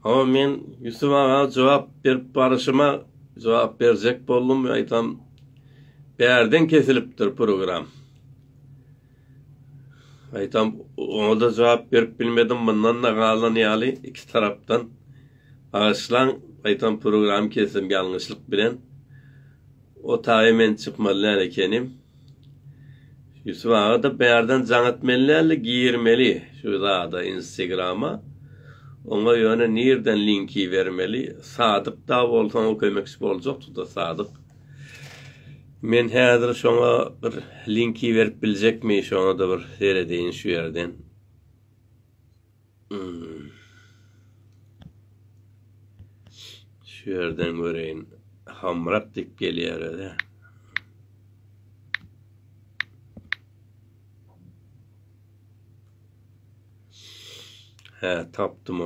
Hawa men Ýusuf aga jogap berip baryşyma jogap berjek boldum we aýtam bärden kesilipdir program. Aýtam oňa da jogap berip bilmedim mundan da galan ýaly iki tarapdan Bagyşlaň gaýtam programy kesdim ýalňyşlyk bilen otaga men çykmaly däl ekenim. Ýusup agada bärden jaň etmeli däldi girmeli şu zada instegrama oňa ýöne nirden linki bermeli sadyk da bolsa oňa kömekçi boljakdyda sadyk men häzir şoňa bir linki berip biljekmi şoňada bir seredeýin şu ýerden. Şu ýerden göreýin. Hamrak diýip gelýär özi. Hä, tapdym.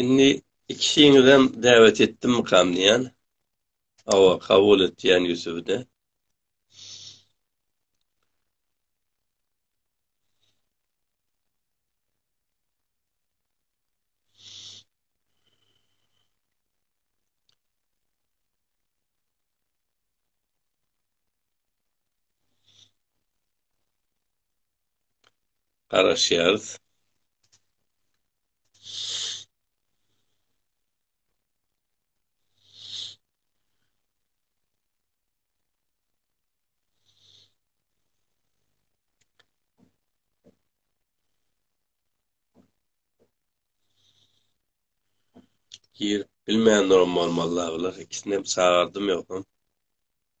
Indi ikisiňizem däwet etdim mukam diýen. Awa, kabul et diýen Ýusufde. garaşýarys. Girip bilmän duran bolmaly dagylar ikisinem çagardym ýogsam.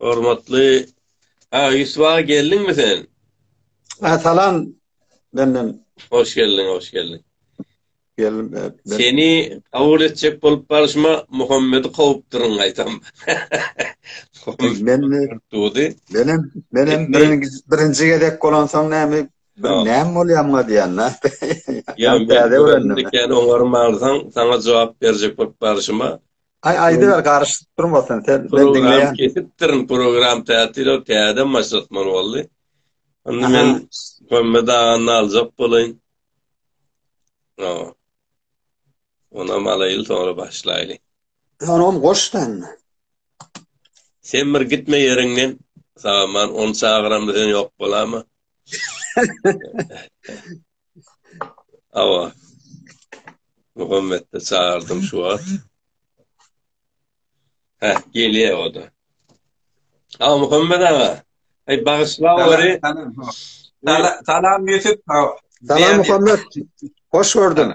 Hormatly Aga Ýusuf aga geldiňmi sen? Ha, salam benden. Hoş geldiň, hoş geldiň. Geldim. E, ben... Seni kabul etjek bolup barşyma Muhammedi kowupdyryň gaýtam. men tutdy. Men hem men hem birinji birinji gezek bolan soň näme bir näm bolýamga diýende. Ýa täze öwrendim. Ýa oňarmarsaň, saňa jogap berjek bolup barşyma Ay aýdyber garyşyp durmasyn sen men diňleýän. Kesipdirin program tätil o täze maşatman boldy. Onda men kömme daganyny aljak bolaýyn. No. Ona malaýyl sonra başlaýly. Sonra hem goşdan. Sen bir gitme yerinden. Sağman on çağıramda sen yok bolama. Awa. Muhammetde çağırdım şu wagt. Heh, gelýär o da. Awa Muhammet aga. Ey bagyşla wari. Salam Ýusuf. Salam Muhammet. Hoş gördüm.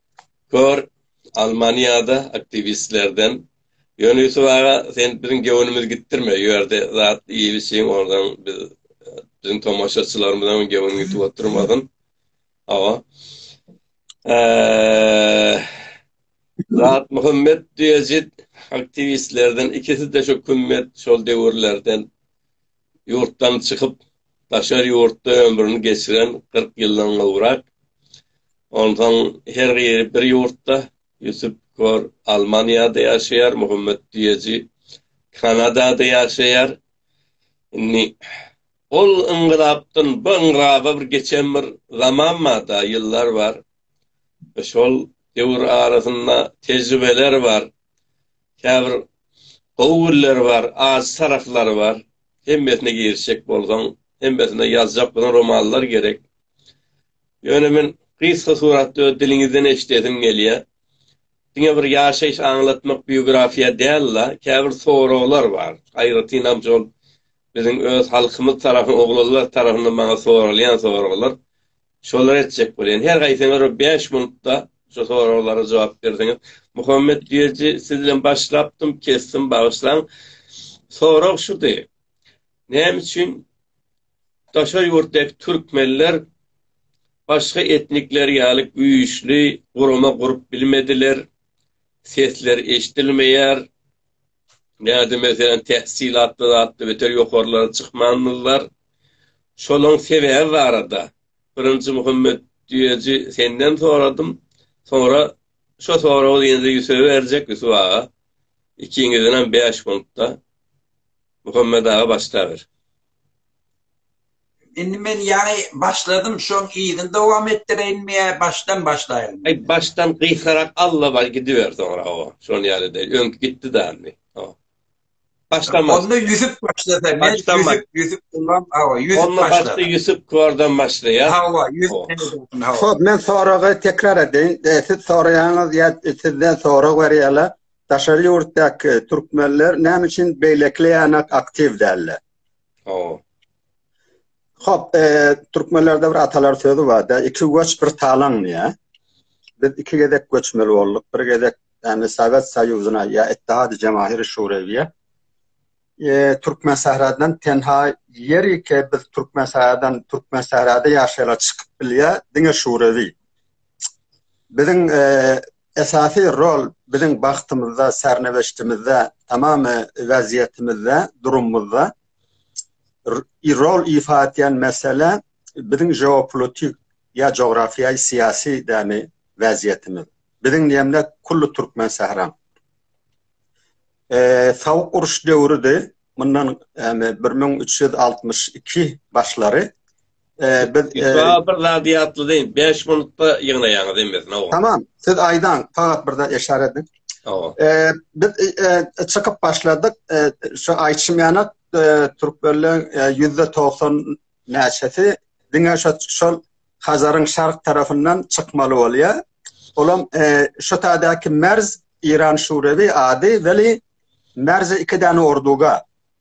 Kör Almaniýada aktiwistlerden Ýöne Ýusup aga sen biziň göwnümizi gitdirme ýu ýerde zat iýip içiň ondan biz biziň tomaşaçylarymyzyň göwni gitip oturmasyn. Awa. Zat Muhammet diýejit aktiwistlerden ikisi de şu kümmet şol döwürlerden ýurtdan çykyp, daşary ýurtda ömrüni geçiren kyrk ýyldan gowrak. Onsoň her biri bir ýurtda, Ýusup Kor Almaniýada ýaşaýar, Muhammet Düýeji Kanadada ýaşaýar. Indi ol yngylapdan bu yngylaby bir geçen bir zaman bar-da, ýyllar bar. Şol döwür arasynda tejribeler bar. Käbir gowy günleri bar, ajy taraplary bar. Hemmesine girişjek bolsaň, hemmesine ýazjak bolsaň romanlar gerek. Ýöne men gysga suratda öz diliňizden eşidesim gelýär. Diňe bir ýaşaýyş aňlatmak biografiýa däl-la, käbir soraglar bar. Aýratynam şol biziň öz halkymyz tarapyn, oglanlar tarapyndan maňa soralýan soraglar. Şolary etjek bolýan. Her haýsyňyz bir bäş minutda şu soraglara jogap berseňiz. Muhammet Düýeji, siz bilen başlapdym, kesdim, bagyşlaň. Sorag şudy, näme üçin daşary ýurtdaky türkmenler başga etnikler ýaly güýçli gurama gurup bilmediler, sesleri eşidilmeýär, Näde meselem tähsilatly zatly beter ýokarlara çykmandylar. Şolaň sebäbi barada birinji Muhammet düýeji senden soradym. Soňra şo soragy ýene-de Ýusuba berjek Ýusup aga. Ikiňizdenem bäş puntda Muhammet aga başlaber. Indi men ýaňy başladym, şoň yzyny dowam etdireýinmi ýa başdan başlaýyn? Aý, başdan gysgarak alla bar gidiber soňra o. Şon ýaly de öňki gitdi da indi. O. Başdan başla. Onda Ýusuf başlasa, men başdan Ýusuf, baş... Ýusuf Gullam, awa, Ýusuf Onda başla. Onda başda Ýusuf Kordan başlaýar. Hawa, Ýusuf. Hop, men soragy tekrar edeýin. E, siz soraýaňyz ýa sizden sorag berýärler. Daşary ýurtdaky türkmenler näme üçin beýlekilere aktiw däller? Hawa. Hop, türkmenlerde bir atalar sözi bar-da, iki göç bir talan diýä. Biz iki gezek göçmeli bolduk. Bir gezek yani Sovet Soýuzyna ýa Ittihad Jamahir Şurewiýe. E, Türkmen Sahradan tenha ýeri ki biz Türkmen Sahradan Türkmen Sahrada ýaşaýar çykyp bilýär diňe Şurewi. biziň esasy rol biziň bagtymyzda, sernewişdimizde, tamam wezýetimizde, durumymyzda rol ifa etýän mesele biziň jeopolitik ýa jografyýa-syýasy dämi wezýetimiz. Biziň diýemde kullu türkmen sähram. Sowuk uruş döwrüdi, mundan bir müň üç ýüz altmyş iki başlary Ee, biz e, Şu bir zady ýatladyň. 5 minutda ýygnaýaňyz emmesin owa. Tamam. Siz aýdaň, fakat bir zat eşar ediň. Owa. Ee, biz e, e, çykyp başladyk. E, şu aýçym ýana e, türkmenleň e, %90 näçesi diňe şu şol Hazaryň şark tarafyndan çykmaly bolýar. Olam e, şu taýdaky Merz İran Şurewi ady weli Merz iki däne orduga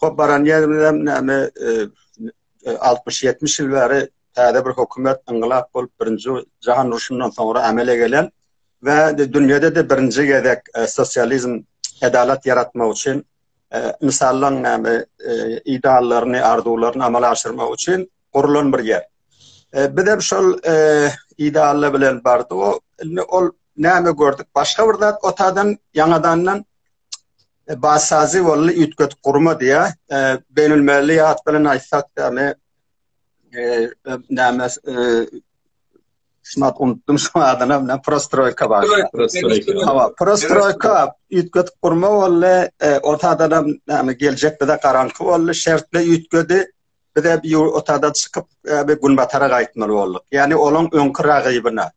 Hop baran ýerimizem näme altmyş ýetmiş ýyl bäri täze bir hökümet yngylap bolup birinji jahan urşundan soňra amele gelen we dünýäde de birinji gezek e, sosializm adalat ýaratmak üçin e, insanlaryň näme e, ideallaryny, arzuwlaryny amala aşyrmak üçin gurulan bir ýer. Biz hem şol idealla bilen bardyk. O indi ol näme gördük? Başga bir zat otadan ýaňadandan e, basazy bolly üýtgetip gurma diýä. E, Beýnülmilli ýat bilen aýtsak, ýagny e, e näme e, şunat unutdum şu adyny, näme prostroýka bar. Hawa, prostroýka üýtgetip gurma bolly, e, o taýdan näme geljek bize garaňky bolly, şertli üýtgedi. Biz hep ýu otagdan çykyp, hep günbatara gaýtmaly bolduk. Ýagny olaň öňki ragybyna,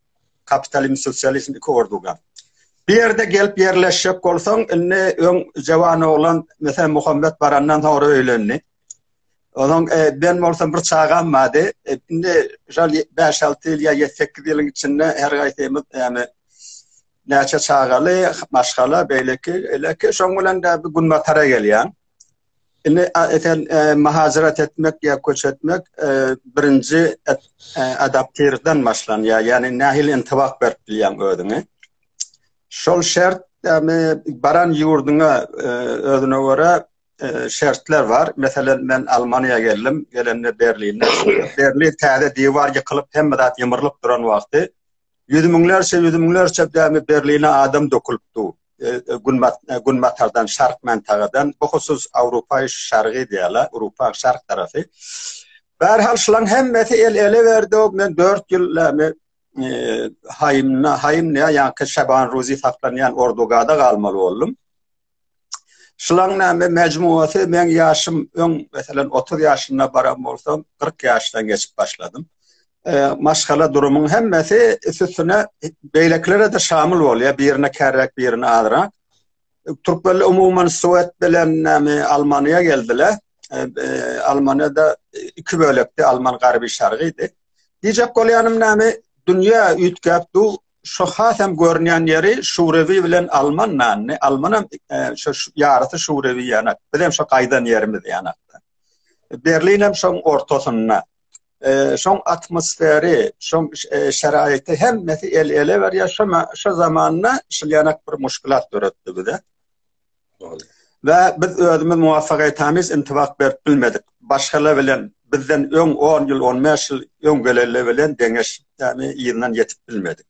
kapitalizm, sosializm iki orduga. Bir ýerde gelip ýerleşjek bolsaň, indi öň jawan oglan, meselem, Muhammet barandan soňra öýlendi. Onuň e, ben bolsam bir çagam bardy. E, indi şol 5-6 ýyl ýa 7-8 ýylyň içinde her gaýsymyz ýagny näçe çagaly, maşgala, beýleki, eleki şoň bilen de bir günbatara gelýän. Indi eter mahajarat etmek ýa köç etmek birinji adaptirden başlanýar. Ýani nähili intibak berip bilýän özüňe. Şol şert ýani baran ýurduňa özüne görä şertler bar. Meselem men Almaniýa geldim. Gelende Berlinde. Berlin täze diwar ýykylyp hemme zat ýymyrylyp duran wagty. Ýüz müňlerçe ýüz müňlerçe dämi Berline adam dökülipdi. günbatardan, şark mantagadan, bu husus Awrupaýy şargy diýýärler, Awrupa şark tarapy. Bärhal şulaň hemmesi el ele berdi, men 4 ýyl näme haýymna, haýym näme ýa-da Şaban Ruzi saklanýan Ordugada galmaly boldum. Şulaň näme mejmuasy men ýaşym öň, meselem 30 ýaşynda baran bolsam, 40 ýaşdan geçip başladym. e, maşgala durumyň hemmesi üstüne beýlekilere de şamyl bolýar, birine kärräk, birine azrak. Türkler umuman Suwet bilen näme Almaniýa geldiler. E, e, Almaniýada iki bölekde Alman garby şargydy. Diýjek bolýanym näme dünýä üýtgäp du şu has hem görünýän ýeri Şurewi bilen Alman nanny. Almanam e, şu ýarysy Şurewi ýanak. Biz hem şu gaýdan ýerimiz ýanakda. Berlin hem şoň ortasynda. e, şoň atmosferi, şoň e, şeraýaty hemmesi el ele berýär. Şo şo zamanda şilýanak bir muşkulat döretdi bize. Ve biz özümiz muvaffak etamiz, intibak berip bilmedik. Başgala bilen bizden öň 10 ýyl, 15 ýyl öň geleli bilen deňeş, ýagny ýygynan ýetip bilmedik.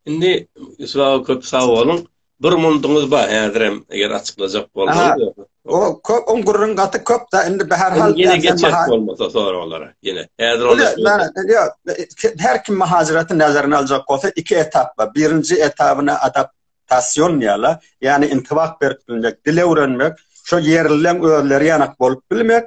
Indi Yusuf aga köp sag boluň. Bir munduňyz bar häzirem eger açyklajak bolsaňyz. O köp on gurrun gaty köp da indi bir her hal ýene geçer bolmasa soraglara. Ýene häzir onda şeýle. Her kim mahajiratyn näzerine aljak bolsa iki etap bar. Birinji etabyna adaptasion diýýärler. Ýagny intibak berip bilmek, dil öwrenmek, şo ýerlileň özleri ýanak bolup bilmek.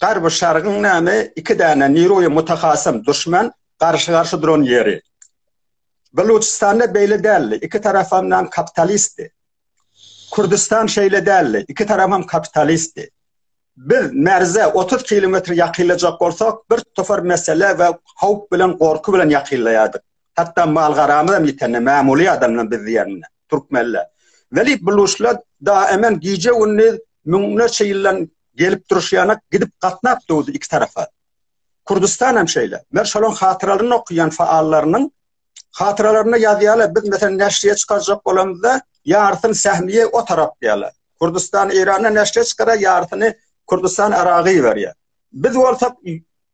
Garby şargyň näme iki däne niroýa mutahasym duşman garşy garşy duran ýeri. Baluçystanda beýle däldi, iki tarafam nam kapitalistdi. Kurdistan şeýle däldi, iki tarafam kapitalistdi. Biz merze 30 kilometr ýakylajak bolsak, bir topar mesele we howp bilen gorky bilen ýakylaýardyk. Hatda mal-garamyz hem ýitende, mämuly adamlar biz diýende, türkmenler. Weli buluşlar daemen gije-gündiz müňlerçe ýyldan gelip duruş ýanak gidip gatnap döwdi iki tarapa. Kürdistan hem şeýle. Men şolaryň hatyralaryny okaýan faallarynyň hatyralaryny ýazýarlar. Biz meselem näşriýe çykarjak bolamyzda ýarysyny sähmiýe o tarap diýýärler. Kürdistan Eýrana näşriýe çykarar ýarysyny Kürdistan Aragy berýär. Biz bolsa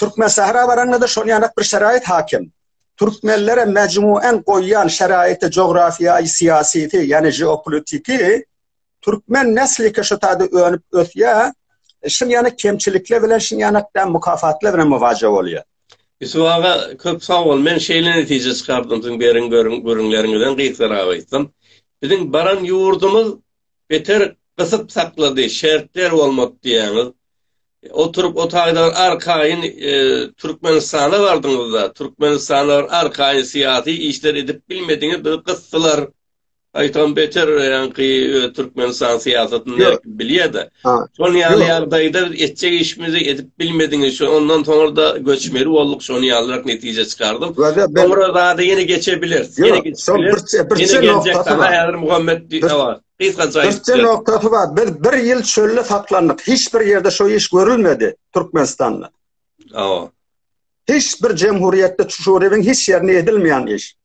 Türkmensähra baraňda-da şol ýanak bir şerait hakim. Türkmenlere mejmuan goýýan şeraýty jografia-syýasysy, ýagny jeopolitiki türkmen nesliki şu taýda önüp ösýär. Şun ýanak kemçilikler bilen şun ýanak da mukafatlar bilen muwaja bolýar. Ýusuf aga köp sag bol. Men şeýle netije çykardym siziň beren gürrüňleriňizden Gysgara aýtsam. Biziň baran ýurdumyz beter gysyp saklady, şertler bolmak diýýäňiz. Oturyp otagdan arkaýyn e, Türkmenistana bardyňyzda, Türkmenistana arkaýyn syýasy işler edip bilmediňiz, bizi gysdylar. Aýtam beter ýaňky e, Türkmenistan syýasatyny bilýär-de. Şol ýaly ýagdaýda biz etjek işimizi edip Bilmediňiz şu ondan soňra da göçmeli bolduk şony ýalyrak netije çykardym. Soňra zada ýene geçebiliriz. Ýene geçebiliriz. Şol birçe birçe noktasy bar. Häzir Muhammet diýýär. Gysgaça aýdyp. Birçe noktasy bar. Biz bir ýyl çölde saklandyk. Hiç bir ýerde şu iş görülmedi Türkmenistanda. Awa. Hiç bir jemhuriyetde çuşuryň hiç ýerinde edilmeýän iş.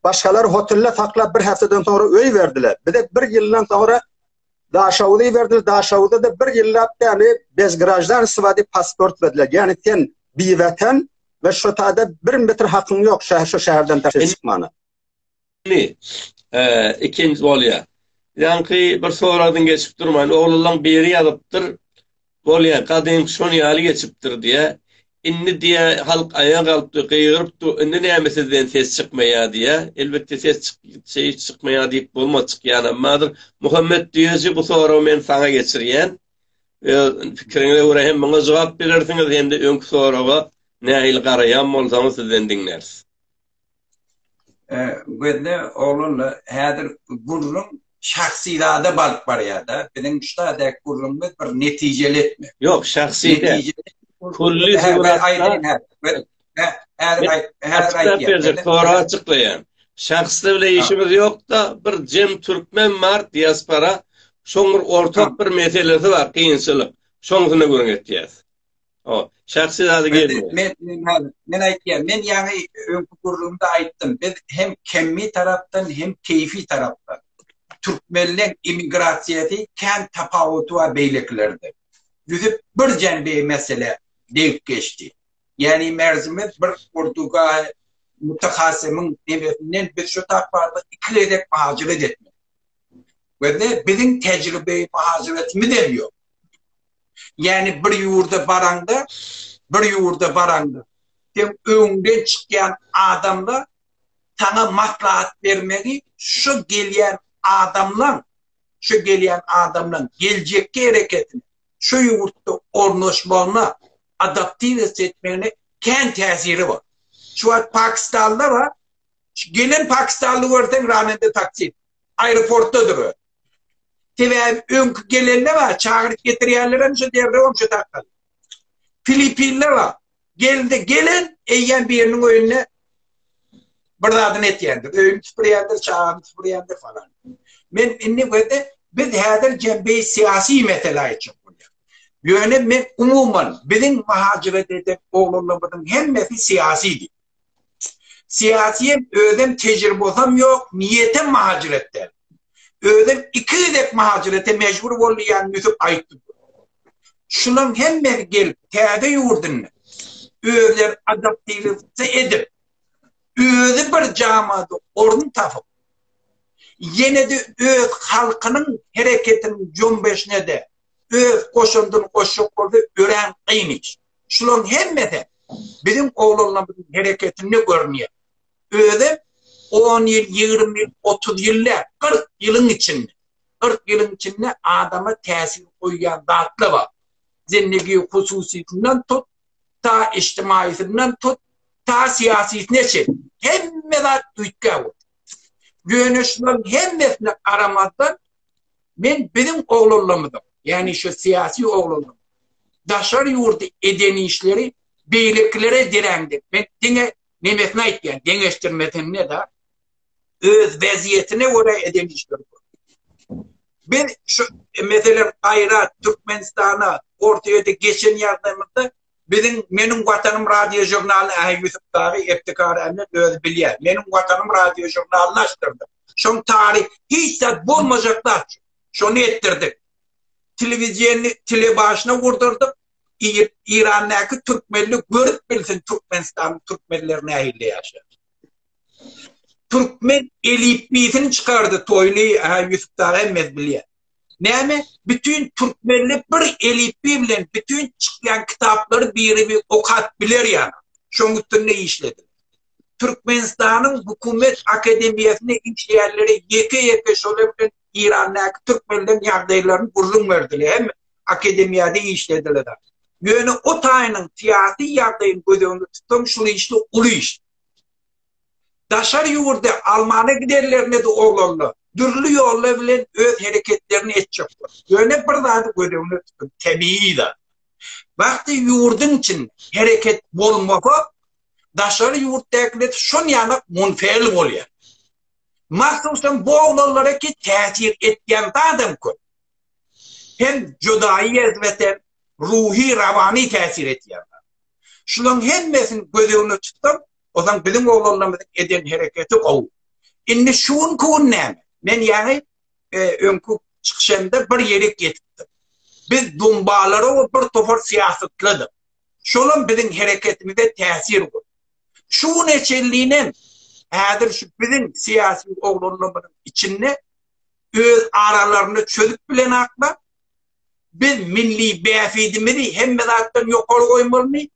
Başgalar hotelde saklap bir haftadan soňra öý berdiler. Bize bir ýyldan soňra Daşawuzy iberdiler, Daşawuda-da bir ýyllap däli bez graždanstwa diýip pasport berdiler. Ýagny sen biwetan we şo taýda bir metr hakyň ýok şäher şo şäherden daşary çykmana. Li, eee, ikinji bolýa. Ýaňky bir soradyň geçip durman, oglanlaň biri ýazypdyr, Bolýa, gadym şon ýaly geçipdir, diýä. Indi, diýä, halk aýa galpdy, gygyrypdy, indi näme sizden ses çykmaýa, diýä. Elbetde, ses çyk, çy, çykmaýa diýip bolmaz, çykýanammadyr. Muhammet düýeji, bu soragy men saňa geçirýän. Öz pikiriňize görä hem muňa jogap bilersiňiz, hem-de öňki soraga nähili garaýan bolsaňyz, sizden diňläris. Gözde oglanla häzir gürrüň şahsy zada baryp barýar-da. Biziň şu taýdaky gürrüňimiz bir netijeli etmek. Ýok, şahsy däl. Külli suratda. Häzir aýdýan. Tora açyklaýan. Şahsda bile işimiz ýok-da, bir jem türkmen bar, diaspora. Şoň bir ortak bir meselesi bar, kynçylyk. Şoňa gürrüň etýäs. O, şahsy zady gelmeýär. Men, men, men, men aýtýan, men ýaňy öňki gürrüňde aýtdym. Biz hem kemmi tarapdan, hem keýfi tarapdan. Türkmenleň immigrasiýasy kän tapawuty bar beýlekilerde. Düzüp bir jembe mesele degip geçdi. Ýani merzimiz bir Portuga mutahassymyň nebesinden biz şu tapawuty iki gezek mahajiret etdik. Gözle biziň tejribe mahajiretimiz hem ýok. Ýani bir ýurda baraňda, bir ýurda baraňda, sen öňden çykýan adamlar saňa maslahat bermegi şu gelýän adamlaň, şu gelýän adamlaň geljekki hereketini, şu ýurtda ornaşmagyna, adaptiwasiýa etmegine kän täsiri bar. Şu wagt Pakistanlylar bar. Gelen pakistanly görseň ramende taksit. aeroportdadyr. Sebäbi öňki gelende bar, çagyryp getirýärler hem şu derrew hem şu dakdan. Filippinde bar. Geldi, gelen eýýäm biriniň öýünde bir zadyny etýändir. Öýüni süpürýändir, çagany süpürýändir falan. Men indi wede biz häzir jembi syýasy mesele üçin bolýar. Ýöne men umuman biziň mahajyrat eden oglanlarymyzyň hemmesi syýasydy. Syýasýem, özem tejribasam ýok, niýetem mahajiret däl. Özem iki gezek mahajirete mejbur boldy ýan Ýusup aýtdy. Şulaň hemmesi gelip täze ýurdunda özler adaptirowca edip, özi bir jamada orun tapyp, ýene-de öz halkynyň hereketiniň jombeşine-de öz goşandyny goşjak bolsa örän kyn iş. Şularyň hemmesi biziň oglanlarymyzyň hereketinde görünýär. Özem on ýyl, ýigrimi ýyl, otuz ýyl däl, kyrk ýylyň içinde, kyrk ýylyň içinde adama täsir goýýan zatlar bar. Zindegi hususysyndan tut, ta ijtimaýysyndan tut, ta syýasysyna çenli. Hemme zat üýtgäp otyr. Ýöne şularyň hemmesine garamazdan, Men biziň oglanlarymyzyň, ýagny şu syýasy oglanlaryň daşary ýurda eden işleri beýlekilere derän diýip, men diňe nemesini aýtýan, deňeşdirmesinde-de öz wezýetine görä eden işleri bar. Biz şu, meselem, Gaýrat, Türkmenistana, Orsýete geçen ýagdaýymyzda Biziň Meniň Watanym radiožurnalyny Ahy Ýusup dagy Ebtikar Ämmet özi bilýär. Meniň Watanym radiožurnalyny açdyrdyk. Şoň taryh hiç zat bolmajak zat şu. Şony etdirdik. Telewiziýany tele başyna gurdurdyk. Iýip, Irandaky türkmenli görüp bilsin Türkmenistanyň türkmenleri nähili ýaşar. Türkmen elipbiýsini çykardy Toýly, Ahy Ýusup dagy hemmesi bilýär. Näme bütin türkmenli bir elipbiý bilen bütin çykýan kitaplary biri okap biler ýaly. Şoň üstünde işlediler. Türkmenistanyň hökümet akademiýasynda işleýänlere ýeke-ýeke şolar bilen Eýrandaky türkmenleriň ýagdaýlaryny gürrüň berdiler hem akademiýada işlediler. Ýöne o taýynyň syýasy ýagdaýyny göz öňünde tutsaň şul işde uly iş. daşary ýurda almana gidenlerine-de oglanla dürli ýollar bilen öz hereketlerini etjek bolup, ýöne bir zady göz öňüne tutuň, tebigy zat. Wagty ýurduň içinde hereket bolmasa, daşary ýurtdakiler şonýanak munfeýl bolýar. Mahsusam bu oglanlara ki täsir etýän zadam köp. Hem judaýy ýezbeten, ruhy-rawany täsir etýän zat. Şulaň hemmesini göz öňüne tutsaň, Ozan biziň oglanlarymyzyň eden hereketi gowy. Indi şu gün gün näme? Men ýaňy e, öňki çykyşymda bir ýere ýetipdim. Biz dumbalara we bir topar syýasatladyk. Şolam biziň hereketimize täsir gurdy. Şu gün eçenliğine häzir şu biziň syýasy oglanlarymyzyň içinde öz aralarynda çözüp bilen akla biz milli bähbidimizi hemme zatdan ýokary goýmalymy?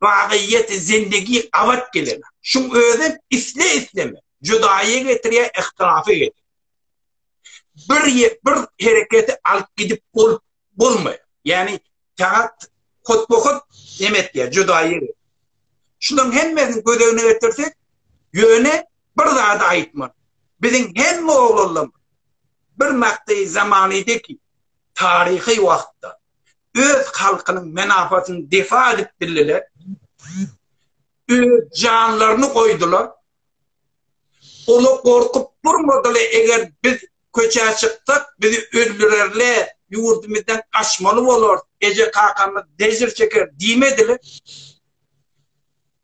bagyýeti zindegi abat gelene. Şuň özi isle-isleme judaýa getirýär, ihtilafa getirýär. Bir bir hereketi alyp gidip bolup bolmaýar. Ýagny sagat hotbohot neme etýär, judaýa. Şularyň hemmesini göz öňüne getirsek, ýöne bir zady aýtmaly. Biziň hemme oglanlarymyz bir makdy zamany deki taryhy wagtda öz halkynyň menafatyny defa edip bildiler, öz janlaryny goýdular. Ola gorkup durmadylar, eger biz köçä çyksak, bizi öldürerler, ýurdumyzdan gaçmaly bolar, eje kakamyz dejir çeker diýmediler.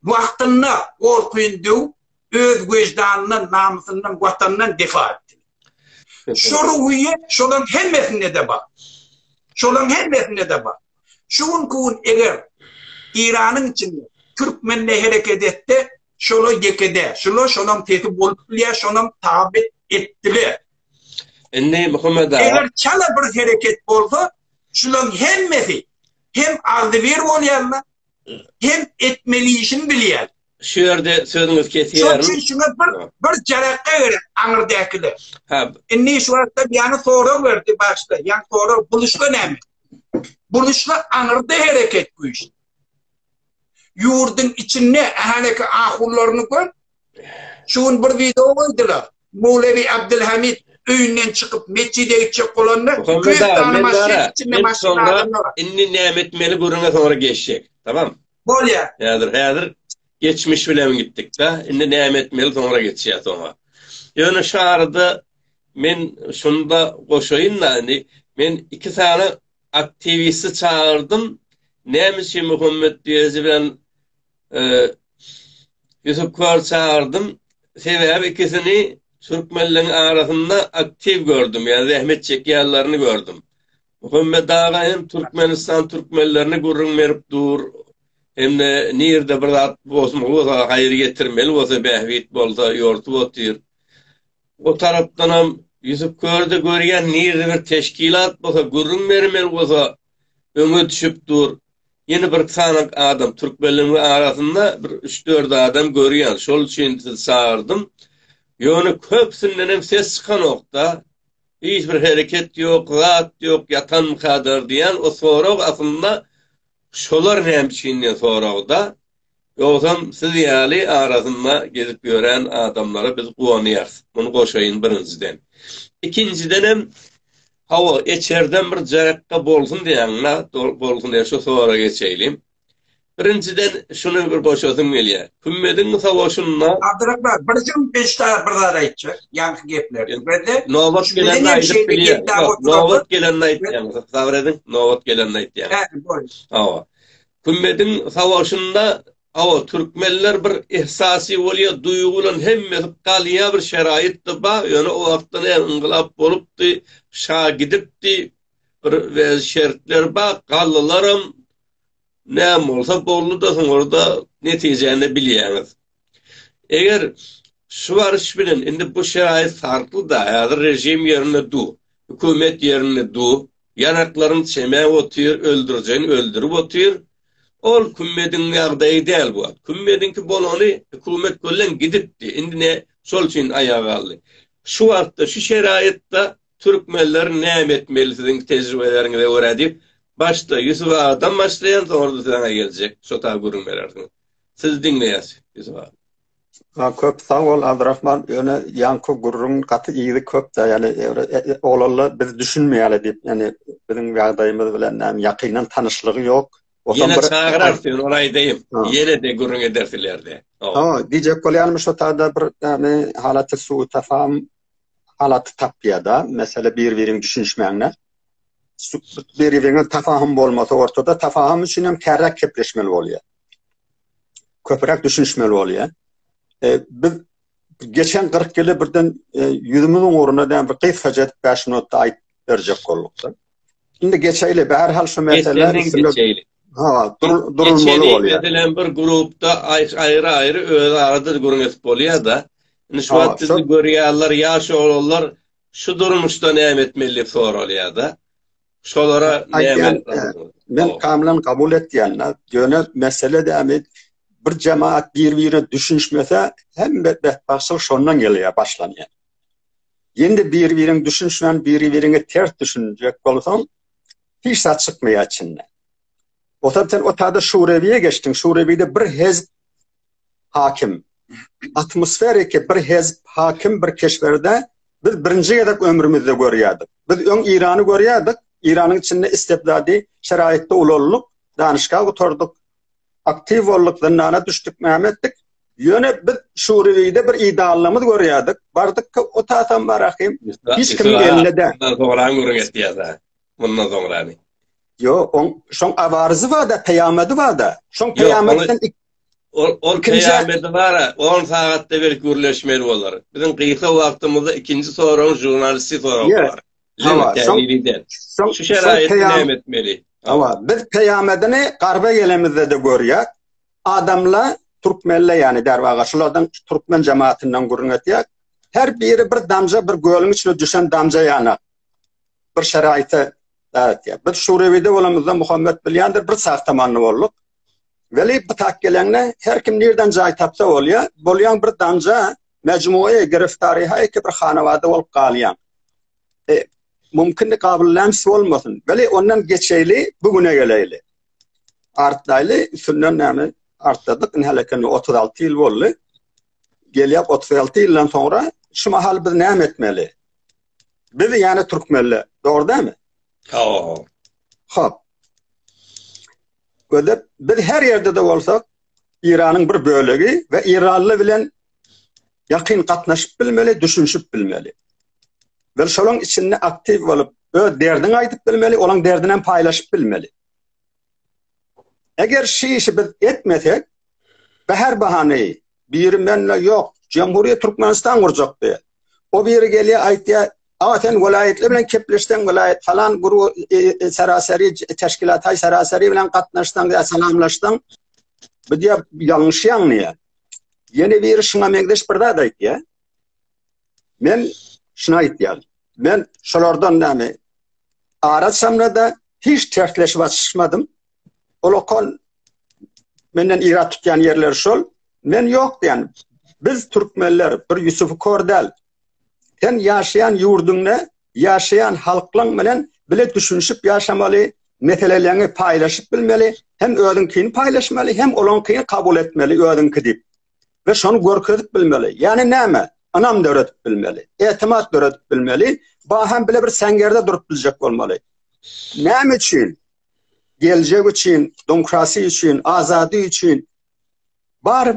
Wagtynda gorkuny döwüp, öz weždanyndan, namysyndan, Watanyndan defa etdi. Şu ruhyýet şolaryň hemmesinde-de bar. Şolaryň hemmesinde-de bar. Şu günki gün eger Eýranyň içinde türkmen ne hereket etse, şolar ýekede, şolar şolaryň sesi bolup bilýär, şolaryň tabi etdiler. Indi Muhammed aga. Eger çala bir hereket bolsa, şolaryň hemmesi hem agzybir bolýarlar, hem etmeli işini bilýär. Şu ýerde sözüňizi kesýärin. Şonuň üçin bir bir jarakga gerek aňyrdakylar. Ha. Indi şu wagtda ýany sorag berdi başda. Ýan sorag buluşga näme? Buluşga aňyrda hereket güýç. Ýurduň içinde ähli ahullaryny gör. Şu gün bir video goýdular. Mowlewi Abdulhamid öýünden çykyp metjide gitjek bolanda köp tane maşyn içinde maşyn adamlar. Indi näme etmeli görüňe soňra geçjek. Tamam. Bolýar. Häzir, häzir geçmiş bilen gitdik-de, indi näme etmeli, soňra geçýäs oňa. Ýöne şu arada men şunda goşaýyn-da, indi men iki sany aktiwisti çagyrdym, näme üçin Muhammet Beýeji bilen e, Ýusup Kör çagyrdym, sebäbi ikisini türkmenleriň arasynda aktiw gördüm, ýa zähmet çekýärlerini gördüm. Muhammet aga hem Türkmenistan türkmenlerine gürrüň berip dur. Hem-de nirde bir zat bozmaly bolsa, haýyr getirmeli bolsa, bähbit bolsa ýortup otyr. O tarapdanam Ýusup Körde görýän nirde bir teşkilat bolsa, gürrüň bermeli bolsa öňe düşüp dur. Ýene bir sanak adam, türkmenleriň arasynda bir üç-dört adam görýän. Şol üçin sizi çagyrdym. Ýöne köpüsinden hem ses çykanok-da. Hiç bir hereket ýok, zat ýok, ýatanmykadyr diýen o sorag aslynda şolar näme üçin diýen soragda. Ýogsam siz ýaly arasynda gezip ýören adamlara biz guwanýarys. Muny goşaýyn birinjiden. Ikinjidenem hawa eçerden bir jaýakga bolsun diýýäňiz-a, bolsun diýýän şu soragy geçeýlim. Birinjiden şuny bir goşasym gelýär. Hümmediň sowaşynda. Abdyrahman, bir jüň beşda bir zat aýtjak, ýaňky geplerden. Bende. Nobat gelende aýdyp bilýär. Nobat gelende aýtýan. Sabyr ediň, nobat gelende aýtýan. Hä, bolýar. Hawa. Hümmediň sowaşynda, hawa, türkmenler bir ihsasy bolýar, duýgy bilen hemmesi galýar, bir şeraýat-da bar, ýöne o wagtda näme yngylap bolupdy, şa gidipdi, bir wez şertler bak gallylaram näm bolsa boldy da soň orada netijäni bilýäňiz. Eger şu baryş bilen indi bu şerait farkly da häzir rejim ýerinde du, hökümet ýerinde du, ýanaklaryň çemäp otyr, öldürjegini öldürip otyr. Ol kümmediň ýagdaýy däl bu. Kümmediňki bolany hökümet bilen gidipdi. Indi ne şol üçin aýaga galdy. Şu wagtda şu şeraýatda Türkmenler näme etmeli siziň tejribeleriňize görä diýip, başda Ýusup agadan başlaýan, soňra-da size geljek, şo taýy gürrüň berersiňiz. Sizi diňleýäs, Ýusup aga. Ha, köp sag bol, Abdyrahman. Ýöne ýaňky gürrüň gaty yzy köp-de, ýagny oglalla biz düşünmeýäli diýip, ýagny biziň ýagdaýymyz bilen näme ýakyndan tanyşlygy ýok. Ýene çagyrarys, ýöne ony aýdaýyn. Ýene-de gürrüň edersiler-de. Hawa, diýjek bolýanym şo taýda bir näme halaty subut tapam, halaty tapýada, mesele bir-biriň düşünişmäňde. Bir-biriňe tafahym bolmasa ortada, tafahym üçin hem kärräk kepleşmeli bolýar. Köpräk düşünişmeli bolýar. E, biz geçen 40 ýyly birden e, ýüzümiziň ugruna däm bir gysgaja 5 minutda aýt berjek boldukda. Şimdi geçeýli, bäri hal şu meseleler geçeýli. Ha, durulmaly bolýar. Geçeýli, bir grupda aýry-aýry öz arada gürrüň edip bolýar da. Indi şu wagt sizi görýärler, ýaş oglanlar şu durmuşda näme etmeli diýip soralýar da. Şolara näme? Men kamlan kabul etýän, ýöne mesele dämi bir jemaat bir-birine düşünişmese, hemme betbagtçylyk şondan gelýär, başlanýar. Ýene-de biri-biriňe düşünişmän, biri-biriňe ters düşünjek bolsaň, hiç zat çykmaýar içinden. Otar sen otada Şurebiýe geçdiň, Şurebiýde bir hezb hakim. Atmosferiki bir hezb hakim bir keşberde biz birinji gezek ömrümizde görýärdik. Biz öň Irany görýärdik, Iranyň içinde istibdady şeraýatda ulaldyk, danyşga gutardyk, aktiw bolduk, zyndana düşdük, näme etdik? Ýöne biz Şuriýede bir idealymyz görýärdik. Bardyk ki, o tatam bar ahim. Hiç kim geldi de. Soňraň görüň etýärdi. Mundan soňrany. Yo, on şoň awarzy bar da, peýamady bar da. Şoň peýamatdan ik Ol ol peýamady bar, 10 sagatda bir gürleşmeli bolar. Biziň gysa wagtymyzda ikinji soragyň žurnalisti soragy bar. Hawa, şoň şu şeraýat näme etmeli? Hawa, biz peýamedini garba gelemizde-de görýär. Adamlar türkmenle, ýani derwaga şulardan türkmen jemaatyndan gürrüň etýär. Her biri bir damja, bir gölüň içine düşen damja ýana bir şeraýata däretýär. Biz Şurewide bolamyzda Muhammet bilýändir, bir sagta many bolduk. Weli bu tak geleňde her kim nirden jaý tapsa bolýar. Bolýan bir damja Mejmugy giriftaryý haýki bir hanawada bolup galýaň. E, mümkindi gabyllän su olmasyn. Beli ondan geçeýli, bu güne geleýli. Artdaýly, üstünden näme artdadyk, indi häleken 36 ýyl boldy. Gelýär 36 ýyldan soňra şu mahal biz näme etmeli? Biz ýane türkmenli, dogry dämi? Hop. Hop. Gödep biz her ýerde de bolsak, Iranyň bir bölegi we Iranly bilen ýakyn gatnaşyp bilmeli, düşünişip bilmeli. We şolaň içinde aktiw bolup, öz derdini aýdyp bilmeli, olaň derdini hem paýlaşyp bilmeli. Eger şu işi biz etmesek, bäher bahany, biri mende ýok, Jemhuriýet Türkmenistan gurjakdy. O biri gelýär, aýtýar, Awa sen welaýatlar bilen kepleşseň, welaýat falan guru e, e, seraseri teşkilat hay seraseri bilen gatnaşsaň ýa salamlaşsaň, bu diýe ýalňyş ýaňlaýar. Ýene biri şuňa meňzeş bir zat aýtýar. Men şuna aýtýar. Men şolardan näme? Ara çamrada hiç tersleşip açyşmadym. Olokon menden ira tutýan ýerler şol. Men ýok diýen. Biz türkmenler bir Ýusufu kor däl. Sen ýaşaýan ýurduňda ýaşaýan halklaň bilen bile düşünişip ýaşamaly, meseleleňi paýlaşyp bilmeli, hem özüňkini paýlaşmaly, hem olaňkyny kabul etmeli özüňki diýip. We şony görkezip bilmeli. Ýani näme? Ynam döredip bilmeli. Etimat döredip bilmeli. Baham bile bir säňgerde durup biljek bolmaly. Näme üçin? Geljek üçin, domkrasi üçin, azady üçin. Bar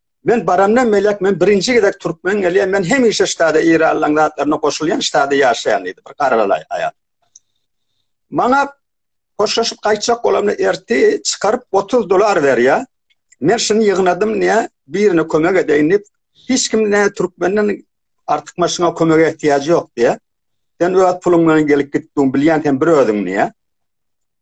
Men barandan melek men birinji gezek türkmen gelýän, men hemişe ştada Eýranlaryň zatlaryna goşulýan, ştada ýaşaýan diýdi bir garalaý aýal. Maňa hoşlaşyp gaýtjak bolamda erti çykaryp 30 dolar berýär. Men şuny ýygnadym diýä, birine kömek edeýin diýip, hiç kim ne türkmenden artyk maşyna kömek ähtiýaç ýok diýä. Sen öz puluň bilen gelip gitdiň, bilýän sen bir özüň diýä.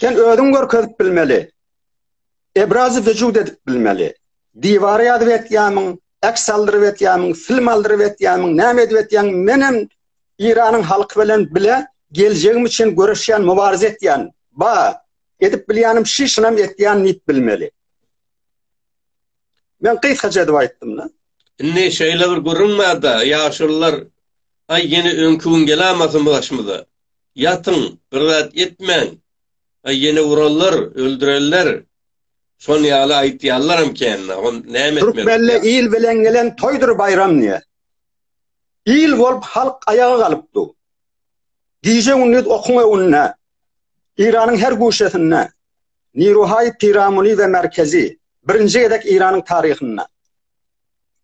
Sen özüň görkezip bilmeli. Ebrazy vücut edip bilmeli. Diwara ýazyp etýämiň, äks aldyryp etýämiň, film aldyryp etýämiň, näme edip etýäň? Men hem Iranyň halky bilen bile geljegim üçin göreşýän, mübarize etýän. Ba, edip bilýänim şi, şunam etýän diýip bilmeli. Men gysgaça edip aýtdym-da. Indi şeýle bir gürrüň bar-da, ýaşulylar, aý, ýene öňki gün gelämasyn bu başymyza. Ýatyň, bir zat etmäň! Aý, ýene urarlar, öldürerler! Şon ýaly aýtýallaram kände, on näme etmeli bolýar? Türkmende il bilen gelen toýdur baýram diýer. Il bolup halk aýaga galypdu. Gije-gündiz okuň öňünde, Eýranyň her guşesinde, Niruhaý, Piramuly we Merkezi, birinji gezek Eýranyň taryhynda.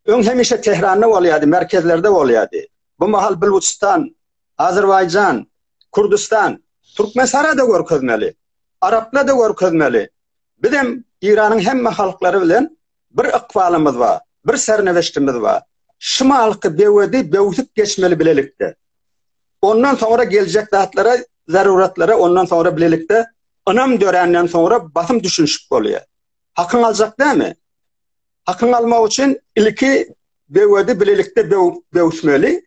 Öň hemişe Tehranda bolýardy, merkezlerde bolýardy. Bu mahal Bilujystan, Azerbaýjan, Kürdüstan, Türkmenistana da görkezmeli. Arapla da görkezmeli. Bizem Iranyň hemme halklary bilen bir ykbalymyz bar, bir serneweştimiz bar. Şumalky bewedi bewsip geçmeli bilelikde. Ondan soňra geljek zatlara, zaruratlara ondan soňra bilelikde ynam dörenden soňra basym düşünişip bolýar. Hakyň aljak dämi? Hakyň almak üçin ilki bewedi bilelikde bewsmeli.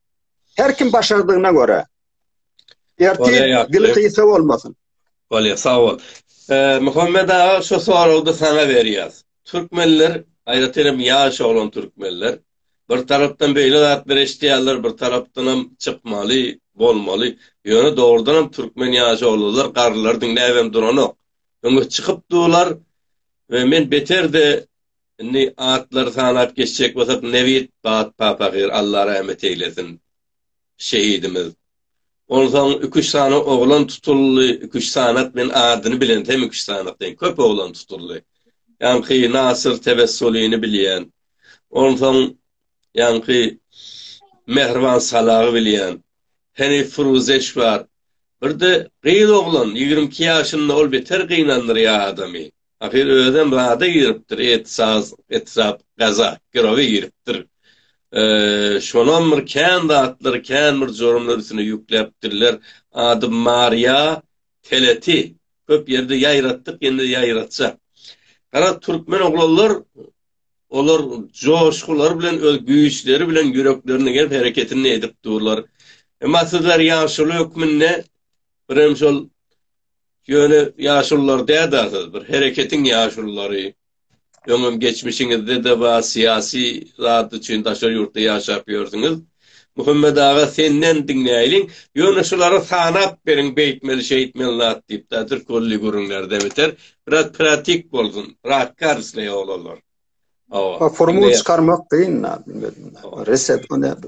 Her kim başardygyna görä. Ertir dil kıysa olmasın. Bolýar, sag bol. Ee, Muhammed aga şu soragda sana berýär. Türkmenler, aýratyn hem ýaş oglan türkmenler bir tarapdan beýle zatlar eşitýärler, bir tarapdan hem çykmaly, bolmaly. Ýöne dogrudan hem türkmen ýaş oglanlar garrylar diňläp hem duranok. Öňe çykyp durlar we men beterde Indi atlary sanap geçjek bolsak Nebit Bat Papagyr Alla rahmet eýlesin şehidimiz. Onsaň iki üç sany oglan tutuldy iki üç sanat men adyny bilen hem iki üç sanat deýin köp oglan tutuldy. Ýaňky Nasyr Tebessulyny bilýän. Onsaň ýaňky Mehriban Salagy bilýän. Henif Furuzeş bar. Birde gyz oglan ýigrimi iki ýaşynda ol beter gynandyrýar adamy. Ahyr özem rada giripdir, et-saz, etrap, gaza, girowe giripdir. Şonam bir kän zatlar, kän bir jorumlar üstüne ýükläpdirler. Ady Maryýa Teleti. Köp ýerde ýaýratdyk, indi ýaýratjak. Gara türkmen oglanlar, olar joşgulary bilen, öz güýçleri bilen ýüreklerini gerip, hereketini edip durlar. Emma sizler ýaşuly hökmünde birem şol Ýöne ýaşulular däda siz bir hereketiň ýaşululary. Öňem geçmişiňizde-de bar syýasy zat üçin daşary ýurtda ýaşap ýörsüňiz. Muhammet aga senden diňläýliň. Ýöne şulary sanap beriň beýtmeli şeýtmeli zat diýip da türkmenli gürrüňlerde biter. Biraz pratik bolsun. Ratka isleýär oglanlar. Hawa. Formula çykarmak kyn. Reset o näde?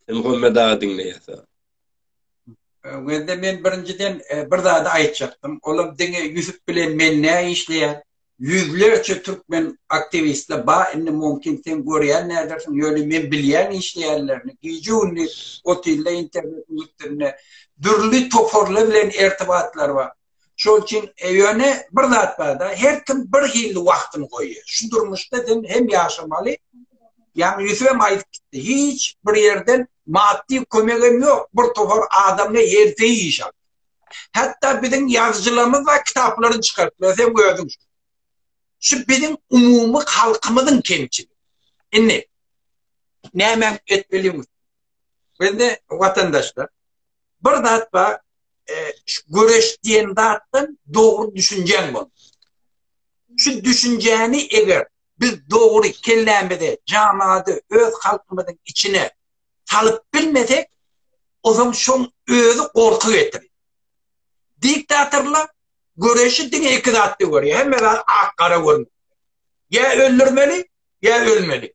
Muhammet aga diňleýär. Wende men birinjiden e, bir zady aýtjakdym. Olam diňe Ýusuf bilen men nä işleýär? Ýüzlerçe türkmen aktiwistler ba, indi mümkin sen görýän nädersiň, ýöne men bilýän işleýänlerini. Gije gündi otylda internet üstünde dürli toparlar bilen ertibatlar bar. Şol üçin ýöne bir zat barda, her kim bir hilli wagtyny goýýar. Şu durmuşda sen hem ýaşamaly. Ýaňy Ýusufem aýdyp gitdi. Hiç bir ýerden maddy kömegem ýok. Bir topar adamly herzeý iş al. Hatda biziň ýazyjylarymyz bar, kitaplaryny çykartdylar, sen gördüň. Şu biziň umumy halkymyzyň kemçiligi. Indi näme etmeliň? Bizde watandaşlar bir zat bar, e, göreş diýen zatdan dogry düşünjäň bol. Şu düşünjäni eger biz dogry kellämize, jamady öz halkymyzyň içine salyp bilmesek, o zaman şoň özi gorky getirir. Diktatorlar göreşi diňe iki zatda görýär. Hemme zat ak-gara görmek. Ýa öldürmeli, ýa ölmeli.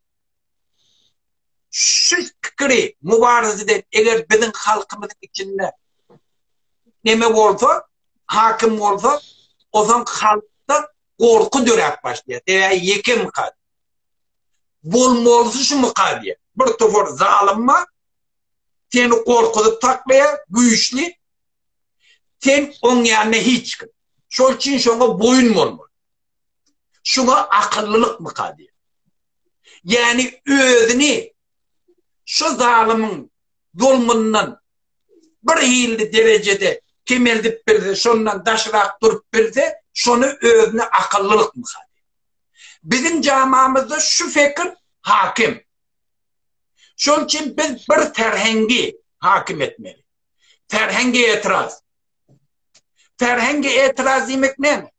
şu pikiri mübaraza eden eger biziň halkymyzyň içinde neme bolsa, hakim bolsa, o zaman halkda korku döräp başlaýar. Sebäbi ýeke mykal. Bolmalysy şu mykal diýär. Bir topar zalymma seni korkuzyp taklaýar, güýçli. Sen oň ýanyna hiç kim. Şol üçin şoňa boýun bolmaly. Şuňa akyllylykmyka diýen. Ýani özüni şu zalymyň zulmundan bir hilli derejede kemeldip bilse, şondan daşrak durup bilse, şony özüne akyllylykmyka diýen. Biziň jamamyzda şu fekir hakim. Şol üçin biz bir terhengi hakim etmeli. Terhengi etiraz. Terhengi etiraz diýmek näme?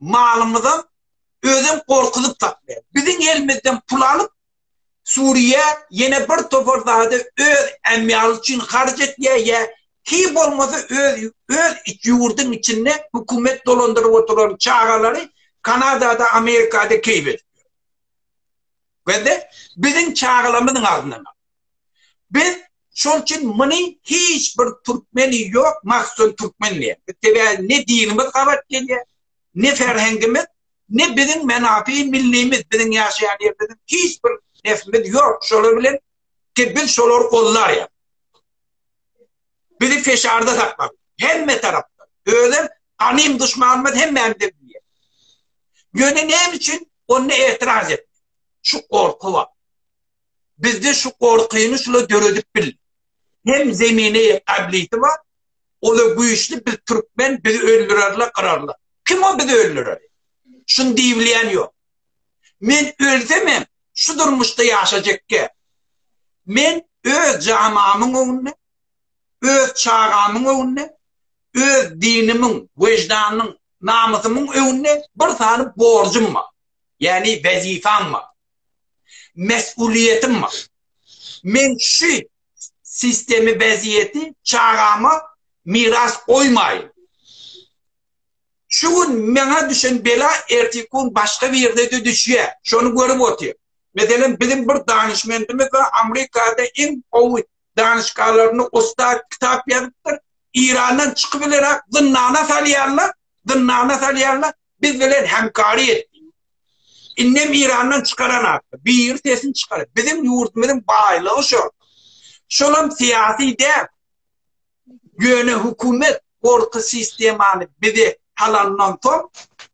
malymyzam özem gorkuzyp saklaýar. Biziň elimizden pul alyp Suriýa ýene bir topar zady öz ämýaly üçin harç etýär ýa hiý bolmasa öz öz ýurduň içinde hökümet dolandyryp oturan çagalary Kanadada Amerikada keýp edip ýör. Bende biziň çagalamyzyň adyna. Biz şol üçin muny hiç bir türkmeni ýok, mahsul türkmen diýen. Sebä ne dinimiz gabat gelýär, ne ferhengimiz, ne biziň menafi millimiz, biziň ýaşaýan ýerimiziň hiç bir nesimiz ýok. Şolar bilen ki biz şolary gollarýar. Bizi feşarda sakmak. Hemme tarapda. Özüm ganym duşmanymyz hemmämiz bilýär. Ýöne näme üçin onda etiraz et? Şu gorky bar. bizde şu gorkyny şula döredip bildi. Hem zemini gabliti bar. Ola güýçli biz türkmen biz öldürerler gyrarlar. Kim o biz öldürer? Şun diýilýän ýok. Men ölsem hem şu durmuşda ýaşajakka. Men öz jamamyň öňünde, öz çagamyň öňünde, öz dinimiň, wejdanyň, namysymyň öňünde bir sany borjum bar. Ýagny wezipam bar. mesuliýetim bar. Men şu sistemi weziýeti çagama miras goýmaýyn. Şu gün maňa düşen bela ertiki gün başga birine-de düşýär. Şony görüp otyr. Meselem, biziň bir danyşmendimiz bar, Amerikada iň gowy danyşgalaryny ussat kitap ýazypdyr. Irandan çykyp bilerak zyndana salýarlar, zyndana salýarlar. Biz bilen hemkary et. Innem Irandan çykaran atdy. Bir sesin çykar. Bizim ýurdumyzyň baýlygy şo. Şolam syýasy däp. Ýöne hökümet gorky sistemany bize halandan soň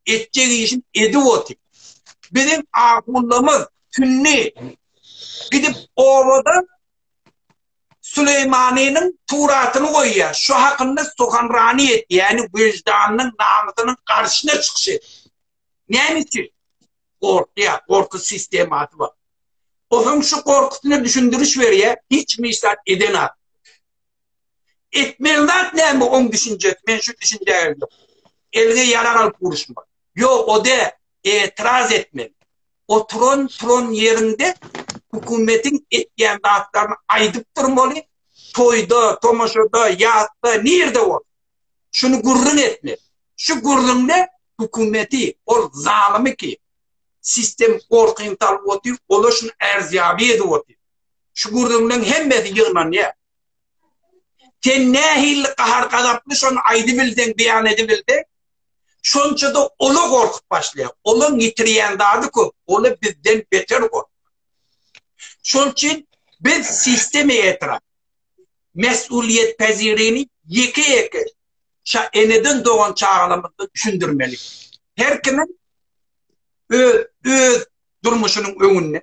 etjek işin edip otyr. Bizim ahundymyz tünni gidip obada Süleýmanynyň suratyny goýýar. Şu hakynda suhanrani et, ýagny weždanynyň, namysynyň garşyna çykyş et. Näme üçin? Gorkýar, gorky sistemasy bar. O hem şu gorkusyna düşündiriş berýär, hiç kim hiç zat edenok. Etmeli zat näme oň düşünjesi, men şu düşünjä geldim. Eline ýarag alyp uruşmak. Ýok, o däl, etiraz etmeli. oturan turan ýeriňde hökümetiň etýän zatlaryny aýdyp durmaly, toýda, tomaşada, ýatda, nirde bol. Şuny gürrüň etmeli. Şu gürrüňde hökümeti, ol zalymy ki, sistem gorkyny salyp otyr, ola şuny ärzýaby edip otyr. Şu gürrüňleň hemmesi ýygnanýar. Sen nähili gahar-gazaply şony aýdybilseň, beýan edibilseň, Şonça-da ola gorkup başlaýar. Olaň ýitirýän zady köp, ola bizden beter gorkýar. Şol üçin biz sistema etrap, mesulyýetpezirini ýeke-ýeke şa eneden dogan çagalarymyza düşündirmeli. Her kimiň öz durmuşynyň öňünde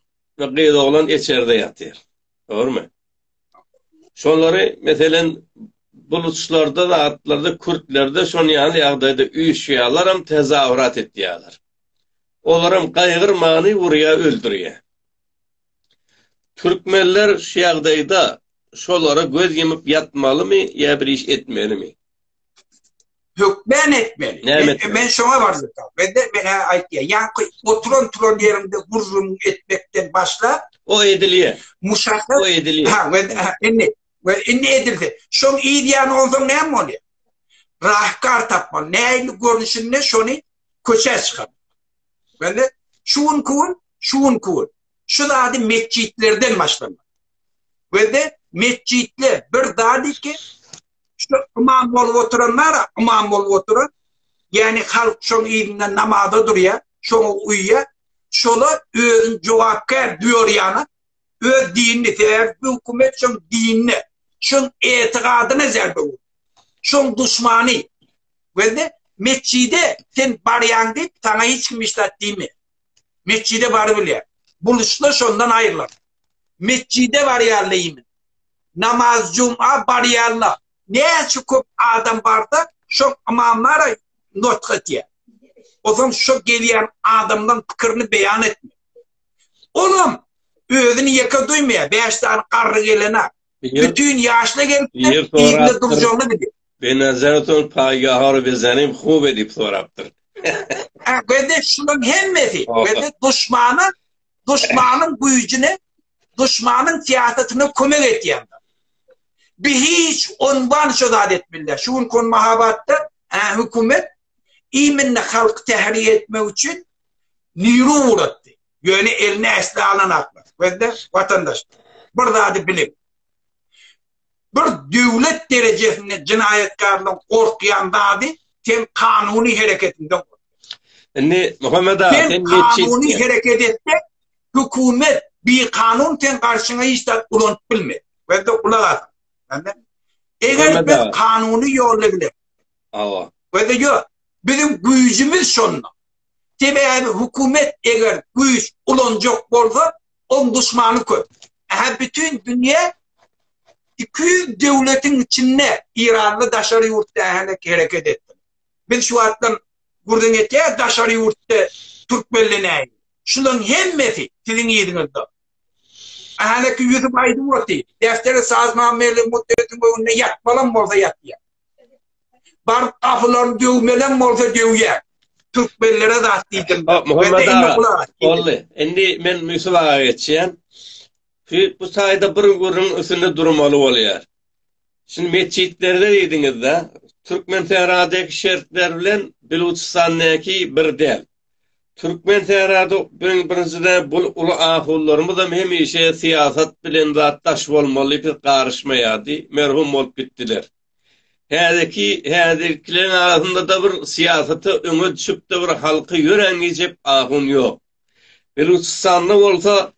gyz oglan içerde ýatyr. Dogrumy? Şolary meselen buluçlarda da atlarda kürtlerde şon ýaly ýagdaýda üýşýärler hem tezawrat etýärler. Olar hem gaýgyrmany urýa öldürýä. Türkmenler şu ýagdaýda şolara göz ýumyp ýatmalymy ýa bir iş etmelimi? hökmen etmeli. Men, men şoňa barjak. Ben de men aýtýa. Ya oturan turan ýerinde gurrum etmekden başla. O edilýär. Muşahhas. O edilýär. Ha, ben indi we indi edildi. Şoň idýany onsoň näme bolýar? Rahkar tapma, näli görnüşinde şony köçä çykar. Ben de şu gün kun, şu gün kun. Şu zady metjitlerden başlamak. Ve de metjitler bir zady ki Şu imam bolup oturan bara, imam bolup oturan. Yani halk şoň ýerinden namaza durýar, şoňa uýýar. Şola özüni jogapkär duýarýana, öz dinini, sebäbi bu hökümet şoň dinine, şoň etigadyna zerbe urýar. Şoň duşmany. Belde metjide sen barýaň diýip, saňa hiç kim işdat diýmeýär. Metjide baryp bilýär. Buluşla şondan aýrylar. Metjide barýarlymy? Namaz juma barýarlar. Näçe köp adam barda şol ymamlara notk etýär. Ozan şo gelýän adamlaň pikirini beýan etmek. Olam özüni ýeke duýmaýar. Bäş sany garry gelene. Bütin ýaşly gelipdir. Ýerinde durjagyny bilýär. Benazaton paýgahar bezenim hub edip sorapdyr. Hä, gede şulaň hemmesi. Gede duşmana duşmanyň güýjüne, duşmanyň syýasatyna kömek etýändir. Bi hiç onban şo zat etmeli. Şu gün kon mahabatda hä hökümet iminni halk tähri etmek üçin niru uratdy. Ýöne elini äsli alan aklar. Gözde vatandaş. Bir zady bilip. Bir döwlet derejesinde jenaýatkarlaryň gorkýan zady sen kanuny hereketiňden gorkýaň. Indi Muhammet aga sen geçýän. Sen kanuny hereket etseň hökümet bikanun sen garşyňa hiç zat ulanyp bilmez. Bende gulak as. Eger biz kanuny ýolla bilen. Awa. Bende ýok. Biziň güýjümiz şonda. Sebäbi hökümet eger güýç ulanjak bolsa Ol duşmany köp. Ähä bütin dünýä 200 döwletiň içinde Eýranly daşary ýurtda ähä hereket etdi. Biz şu wagtdan gürrüň etýäs daşary ýurtda türkmenli näýdi. Şularyň hemmesi siziň yzyňyzda. Ähäki ýüzüp aýdyp otyr. Deftere sazna meli mutdetiň öňünde ýatmalam bolsa ýatýar. Bar gapylaryny döwmelem bolsa döwýär. Türkmenlere zat diýdim. Muhammed aga, bolly. Indi men Müsüp aga geçýän. Şu bu taýda bir gürrüň üstünde durmaly bolýar. Şu metjitlerde diýdiňiz-de, Türkmen Sähradaky şertler bilen Biluçystandaky bir däl. Türkmen Sährady birinjiden bu uly ahulylarymyzam hemişe syýasat bilen zat daş bolmaly, garyşmaýardy, merhum bolup gitdiler. Häzeki häzirkileriň arasynda-da bir syýasata öňe düşüp-de bir halky ýörän geýjek ahun ýok. Belüçistanda bolsa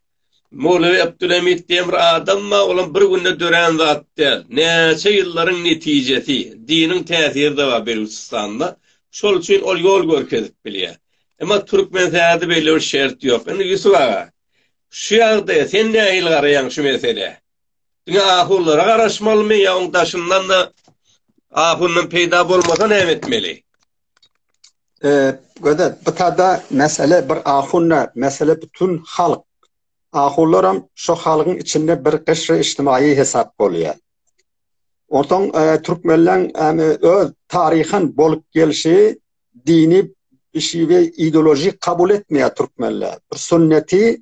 Mowlewi Abdulhamid diýen bir adam bar, olam bir günde dörän zat däl. Näçe ýyllaryň netijesi. Diniň täsiri-de bar Belüçistanda. Şol üçin ol ýol görkezip bilýär. Emma Türkmenistanda beýle bir şert ýok. Indi Ýusup aga, şu ýagdaýa sen nähili garaýaň şu meselä? Diňe ahulara garaşmalymy ýa oň daşyndan-da ahundan peýda bolmasa näme etmeli? Eee, gözel. Bu tada mesele bir ahun däl, mesele bütin halk. Ahunlaram şo halkyň içinde bir gyşry içtimaýy hesap bolýar. Onsoň türkmenleň äme öz taryhan bolup gelşi dini işi we ideolojik kabul etmeýär türkmenler. Bir sünneti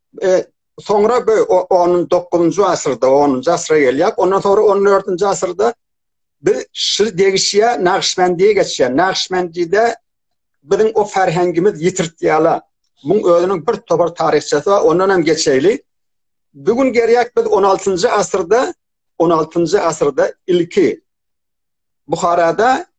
E, soňra bu 19-njy asyrda, 10-njy asyra gelýär. Ondan sonra 14-nji asyrda biz şir degişýä Naqşbendiýe geçýär. Naqşbendide biziň o ferhengimiz ýitirtýärler. Muň özüniň bir topar taryhçasy bar, ondan hem geçeýli. Bu gün gerýek biz 16-njy asyrda, 16-njy asyrda ilki Buharada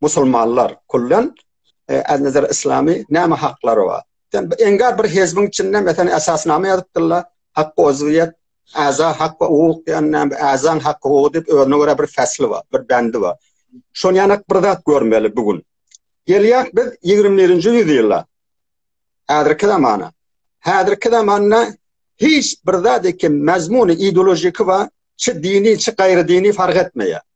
musulmanlar kullen e, az nazar islami näme haklary bar sen engar bir hezbiň içinde mesela esasnama ýazypdyrlar hak ozwiyet aza hak we hukuk diýen azan hak hukuk diýip özüne görä bir fasly bar bir bendi bar şon ýanak bir zat görmeli bu gün gelýär biz 21-nji ýüzýylda häzirki zamana häzirki zamanda hiç bir zat ekem mazmuny ideologiki we çi dini çi gaýry dini fark etmeýär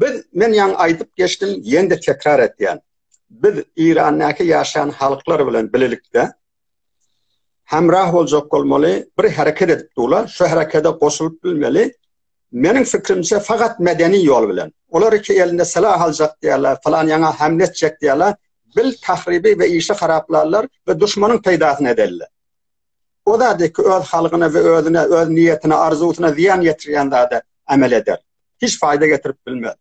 Biz men ýaňy aýdyp geçdim, ýene-de tekrar etýän. Biz Irandaky ýaşaýan halklar bilen bilelikde hemra boljak bolmaly, bir hereket edip durlar, şu herekede goşulyp bilmeli. Meniň fikrimçe fakat medeni ýol bilen. Olar iki elinde silah aljak diýerler, falan ýaňa hemle etjek diýerler. Bil tahribi we işi haraplarlar we duşmanyň peýdasyna ederler. O zady ki öz halgyna we özüne, öz niýetine, arzuwsyna zyýan ýetirýän zada emel eder. Hiç faýda getirip bilmez.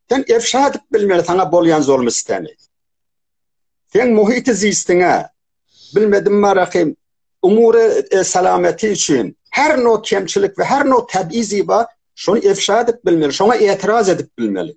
Sen efşa edip bilmeli saňa bolýan zulmy-sütemi. Sen muhiti zisdiňe, bilmedim marahim, umury e, salameti üçin her no kemçilik we her no tebizi ba şony efşa edip bilmeli, şoňa etiraz edip bilmeli.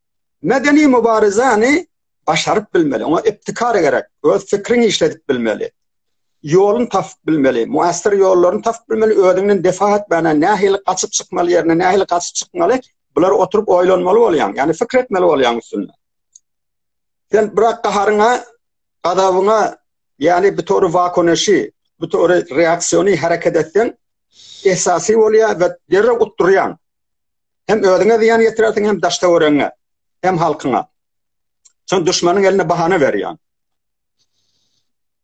Medeni mübarizäni başaryp bilmeli, oňa iptikar gerek, öz fikriňi işledip bilmeli. Ýoluny tapyp bilmeli, muassir ýollaryny tapyp bilmeli, özüňden defa etmäne, nähili gaçyp çykmaly ýerine, nähili gaçyp çykmaly, bular oturyp oýlanmaly bolýaň, ýani fikir etmeli bolýaň üstünde. Sen bırak gaharyňa, gazabyňa, ýani bir tory wakoneşi, bir tory reaksiýony hereket etseň, esasy bolýa we derrew utdurýaň. Hem özüňe zyýan ýetirersiň, hem daş-töweregiňe, hem halkyňa. Şon duşmanyň eline bahana berýän.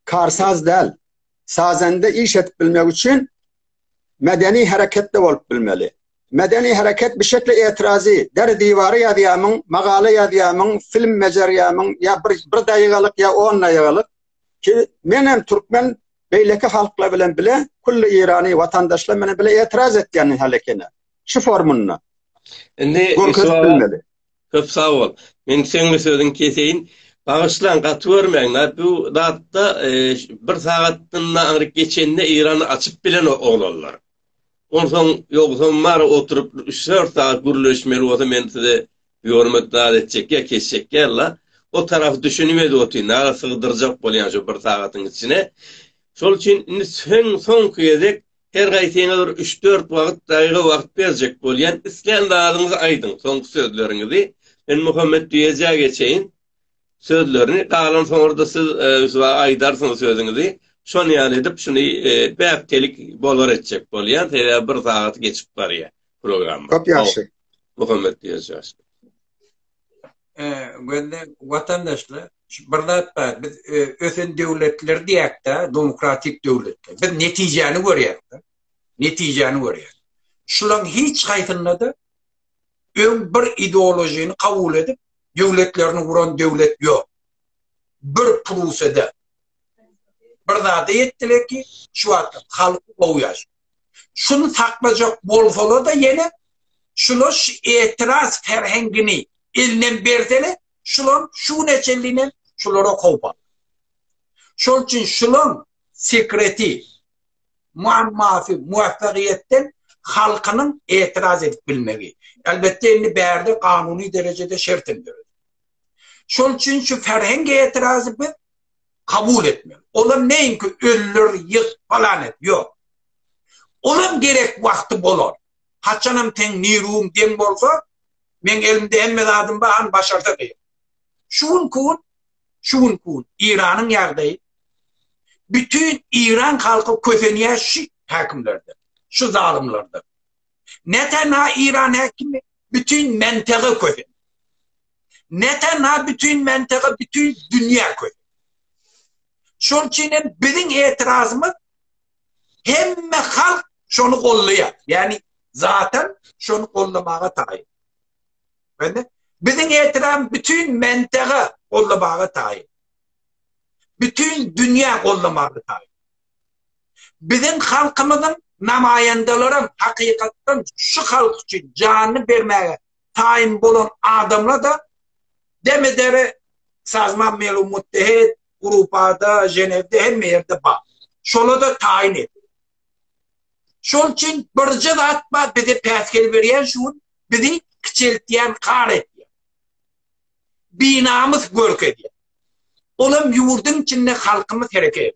Karsaz däl. Sazende iş edip bilmek üçin medeni hereketde bolup bilmeli. Medeni hereket bir şekle etirazi, der diwary ýazýamyň, magala ýazýamyň, film bejerýämiň, ýa bir bir daýygalyk ýa on daýygalyk ki, men hem türkmen beýleki halklar bilen bile kulli irani watandaşlar bilen bile etiraz etýän hälekene. şu formunda. Indi görkezilmeli. Köp sag bol. Men seňli sözüň keseýin. Bagyşlaň, gaty görmäň-la. Bu zatda e, bir sagatdan aňryk geçende Eýrany açyp bilen oglanlar. Onsoň ýogsam bar oturyp 3-4 sagat gürleşmeli bolsa men size ýormet zat etjek ýa kesjek ýa-la. O tarafy düşünip edip otyryn. Aga sygdyrjak bolýan şu bir sagatyň içine. Şol üçin indi sen soňky gezek Her gaýsyňa bir üç-dört wagt daýga wagt berjek bolýan, islän zadyňyzy aýdyň, soňky sözleriňizi. Men Muhammet diýejä geçeýin sözlerini, galan soňra-da siz ösüba aýdarsyňyz sözüňizi. Şon ýaly edip, şuny bäptelik bolar etjek bolýan, sebäbi bir sagaty geçip barýa programma. Köp ýagşy. Muhammet diýejä. gözde watandaşlar bir zat bar biz ösen döwletler diýäkde demokratik döwletler biz netijäni görýäkde netijäni görýäk şulaň hiç haýsynda da öň bir ideologiyny kabul edip döwletlerini guran döwlet ýok bir prusede Bir zada ýetdiler ki, şu wagtda halky gowy ýaşaýar. Şuny saklajak bolsalar-da ýene şular şu etiraz ferhengini elinden berseler, şular şu güne çenli hem şulara howp alýar. Şol üçin şularyň sekreti, muammasy muwaffagyýetden halkynyň etiraz edip bilmegi. Elbetde indi bärde kanuny derejede şertlendirildi. Şol üçin şu ferhenge etirazy biz kabul etmeli. Olar neýin ki ölüler ýyg falan et ýok. Olam gerek wagty bolar. Haçanam teň niruň deň bolsa meň elimde hemme zadym bar han başarsa diýip. Şu gün kun şu gün kun Iranyň ýagdaýy bütün İran halky kösenýär şu hakimlerden. Şu zalymlardan. Ne tenha Iran häkimi, bütin mentegy kösen. Ne tenha bütin mentegy, bütin dünýä kösen. Şol üçin hem biziň etirazymyz hemme halk şony gollaýar. Ýagny zaten şony gollamaga taýyn. Bende biziň etiram bütün mentäge gollamaga taýyn. Bütün dünýä gollamaga taýyn. Biziň halkymyzyň namaýandalarym hakykatdan şu halk üçin janyny bermäge taýyn bolan adamlarda demedere sazman melu muttehet grupada jenewde hemme ýerde bar. Şolada taýyn et. Şol üçin birje zat bar bize päsgel berýän şu gün bizi kiçeltýän kar etýär. Binamys görkezýär. Olam ýurduň içinde halkymyz hereket.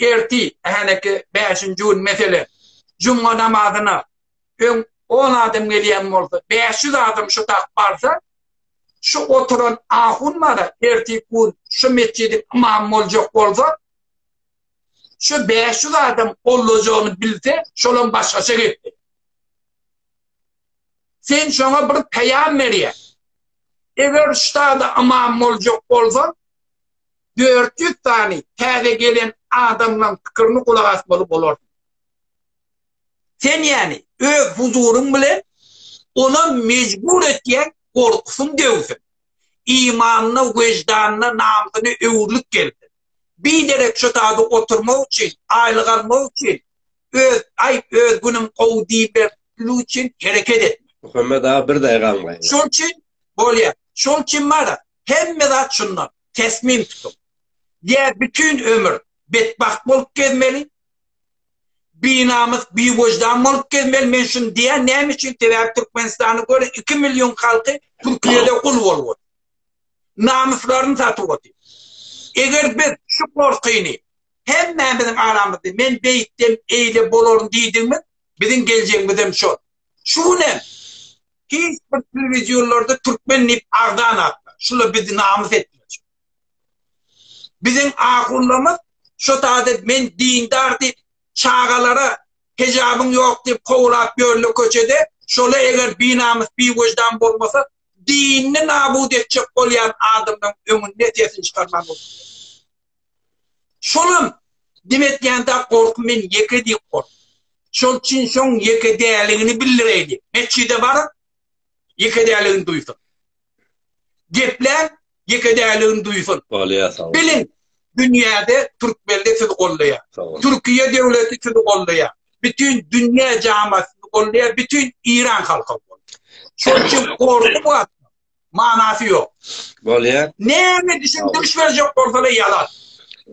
erti, häleki bäşinji gün, meselem, juma namazyna öň on adam gelýän bolsa, bäş ýüz adam şu dak barsa, şu oturan ahun bar-a, erteki gün şu metjidiň ymamy boljak bolsa, şu bäş ýüz adam gollajagyny bilse, şolam başgaça gepdi. Sen şoňa bir peýam berýäň. Eger ştada ymam boljak bolsa, dört ýüz sany täze gelen adamlaň pikirini gulak asmaly bolarsyň. Sen ýani öz huzuryň bilen ony mejbur etýäň gorkusyn döwsün. Imanyna, wejdanyna, namsyna öwürlik gelsin. Biderek şo zady oturmak üçin, aýlyk almak üçin öz, aý, öz günüň gowy diýmek üçin hereket etme. Muhammet aga bir daýga aňlaýyn. Şol üçin bolýar. Şol üçin bar, Hemme zat şunda, tesmim tutuň. Ýa bütin ömür betbagt bolup gezmeli, binamys, biweždan bolup gezmeli, men şuny diýýän, näme üçin, sebäbi Türkmenistany görüň, iki million halky Türkiýede gul bolup otyr. Namyslaryny satyp otyr. Eger biz şu gorkyny hemmämiziň aramyzda men beýtsem eýle bolaryn diýdigimiz, biziň geljegimiz hem şol. Şu gün hem Hiç bir telewizionlarda türkmen dip agzan atma. Şula bizi namys etmejek. Bizin ahunlamyz şu taze men dindar dip çagalara hejabyn yok dip kovulap yörle köçede şola eger binamys bi vicdan bolmasa dinni nabud etjek bolyan adamdan öňünde sesini çıkarman Şolam dim etýände gorky men ýeke diýip gork. Şol üçin şoň ýeke däligini bildireýdi. Metjide baryp ýeke däligini duýsun. Geplän ýeke däligini duýsun. Biliň, dünýäde türkmende sizi goldaýar. Türkiýe döwleti sizi goldaýar. Bütün dünýä jamaty sizi goldaýar, bütün Iran halky. Şol üçin gorky bu manasy ýok. Bolýar. Näme düşündiriş berjek bolsalar ýalan.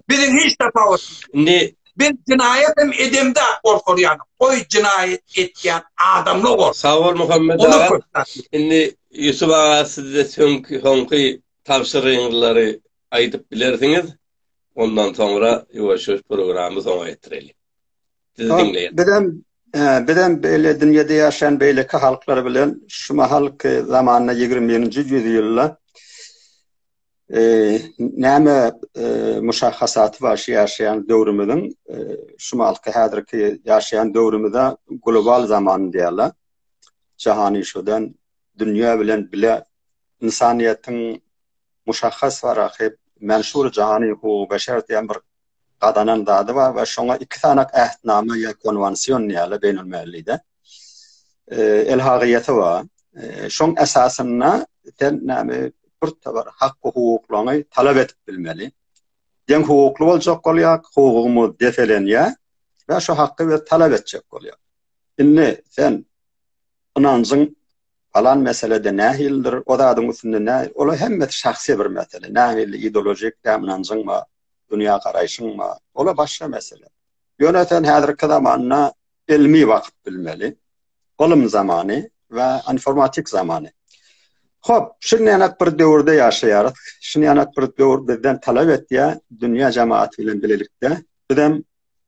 Biziň hiç tapawutymyz. Indi Biz jinaýat hem edemde gorkarýan. Goý jinaýat etýän adamly gor. Sag bol Muhammet aga. Indi Ýusuf aga sizde söňki soňky tabşyryňlary aýdyp bilersiňiz. Ondan soňra ýuwaş-ýuwaş programmy soňa ýetireli. Sizi diňleýän. Bizem bizem beýle dünýede ýaşaýan beýleki halklar bilen şu mahalky zamanda 21-nji ýüzýylda näme muşahasaty bar şu ýaşaýan döwrümiziň şu mahalky häzirki ýaşaýan döwrümize global zaman diýýärler. Jahany şodan dünýä bilen bile ynsanyýetiň muşahhas waraky menşur jahany hukugy beşer diýen bir gazanan zady bar we şoňa iki sanak ähtnama ýa konwansion diýýärler beýnelmilli-de. Elhagyýaty bar. Şoň esasynda sen näme bir tabar hak-hukuklaryňy talap edip bilmeli. Deň hukukly boljak bolýar, hukugyňy depelenýär we şu haky biz talap etjek bolýar. Indi sen ynanjyň alan meselede nähilidir, o zadyň üstünde nähili, olar hemmesi şahsy bir mesele. Nähili ideolojik ynanjyň bar, dünýä garaýşyň bar. Ola başga mesele. Ýöne sen häzirki zamanda ilmi wagt bilmeli. Ylym zamany we informatik zamany. Hop, şun ýanak bir döwürde ýaşaýarys. Şun ýanak bir döwür bizden talap etýär, dünýä jematy bilen bilelikde bizem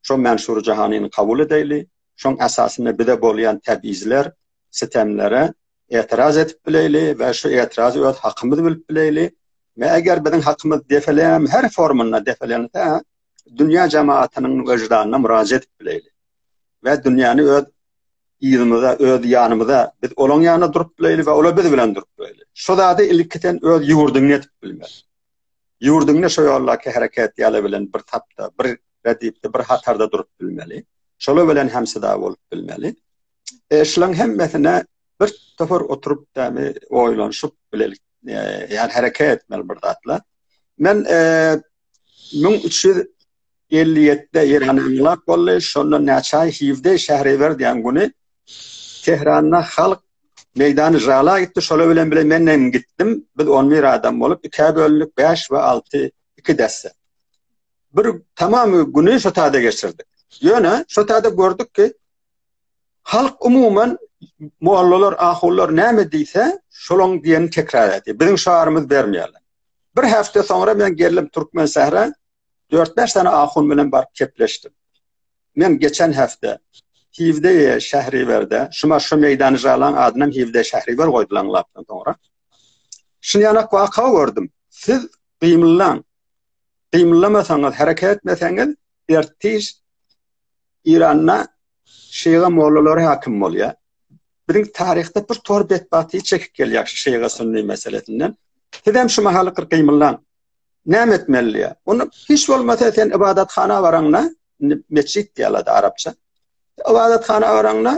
şo Mansur Jahanyny kabul edeýli. Şoň esasynda bize bolýan täbizler, sitemlere etiraz edip bileýli we şu etiraz öz hakymyz bilip bileýli. Ve eger biziň hakymyz defelem her formunda defelense, dünýä jemaatynyň wejdanna murajet edip bileýli. Ve dünýäni öz ýygynyza, öz ýanymyza biz olaň ýanyna durup bileýli ve ola biz bilen durup bileýli. Şu zady ilki sen öz ýurduňda edip bilmeli. Ýurduňda şu ýollaky hereket ýaly bilen bir tapda, bir redipde, bir hatarda durup bilmeli. Şola bilen hem syda bolup bilmeli. Eşlan hemmesine bir topar oturup dämi oýlanşyp bilelik. Yani hareket etmeli bir zatla. Men 1357-de Eýran ýygnap boldy. Şonda näçe hivde şähre berdiýän güni Tehranda halk meýdany jala gitdi. Şola bilen bile men hem gitdim. Biz 11 adam bolup ikä bölündük. 5 we 6 iki desse. Bir tamam güni şotada geçirdik. Ýöne şotada gördük ki, Halk umuman mollalar, ahunlar näme diýse, şolaň diýenini tekrar edýär. Biziň şarymyz bermeýärler. Bir hepde soňra men geldim Türkmen sähra, 4-5 sene ahun bilen baryp kepleşdim. Men geçen hepde Hivdeye Şähriberde, şuma şu meýdany jalan adyny Hivdeye Şähriber goýdular lapdan soňra. Şun ýana waka gördüm. Siz gymyllaň. Gymyllamasaňyz, hereket etmeseňiz, ertiş Iranda şeýga mollalary hakim bolýar. Biziň taryhda bir tor betbahti çekip gelýär şu şeýga sünni meselesinden. Siz hem şu mahaly gyr gymyllaň. Näme etmeli diýär. Ony hiç bolmasa sen ybadathana baraňda, mesjid diýýärler arapça. Ybadathana baraňda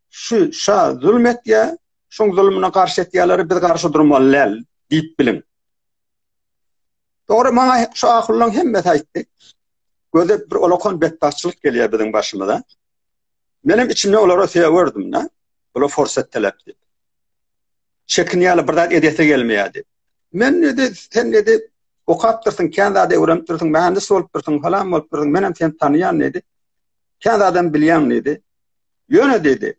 şu şa zulm etýär, şoň zulmuna garşy etýärler, biz garşy durmaly däl diýip biliň. Dogry maňa şu ahyllaň hemmesi aýtdy. Göze bir olakan betbagtçylyk gelýär biziň başymyza. Menem içimde olara söýerdim da. Ola forsat talap diýip. Çekinýärler, bir zat edesi gelmeýärdi. Men dedi, sen dedi, okap dursun, kän zat öwrenip dursun, mühendis bolup dursun, falan bolup dursun, menem seni tanýan dedi. Kän adam bilýän dedi. Ýöne dedi,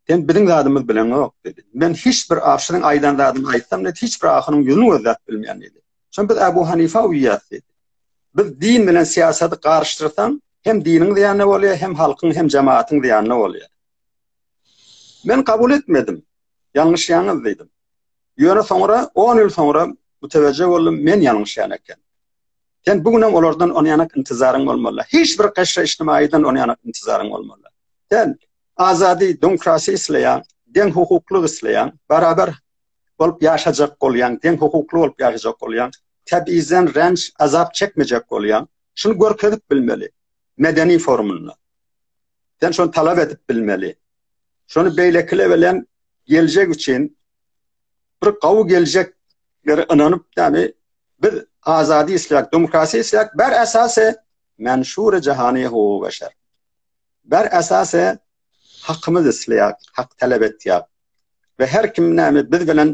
Sen biziň zadymyz bileňok dedi. Men hiç bir aşyryň aýdan zadyny aýtsam dedi, hiç bir ahyryň ýüzüni gözläp bilmeýän dedi. Şonda biz Abu Hanifa uýýas dedi. Biz din bilen syýasaty garyşdyrsaň, hem diniň zyýanyna bolýar, hem halkyň, hem jemaatyň zyýanyna bolýar. Men kabul etmedim. Ýalňyşýaňyz diýdim. Ýöne soňra 10 ýyl soňra mütewejje boldum, men ýalňyşýan eken. Sen bu günem olardan onýanak intizaryň bolmaly. Hiç bir gaşra içtimaýdan onýanak intizaryň bolmaly. Sen Azady demokrasiýa isleýän, deň hukuklyk isleýän, barabar bolup ýaşajak bolýan, deň hukukly bolup ýaşajak bolýan, tebizden ränç, azap çekmejek bolýan, şuny görkezip bilmeli medeni forumynda. Sen şony talap edip bilmeli. Şony beýlekiler bilen geljek üçin bir gawy geljek bir ynanyp, ýani biz azady isleýäris, demokrasiýa isleýäris, bar esasy men şura jahany hukugy beşer. Bar esasy hakymyz isleýär, hak talap etýär. We her kim näme biz bilen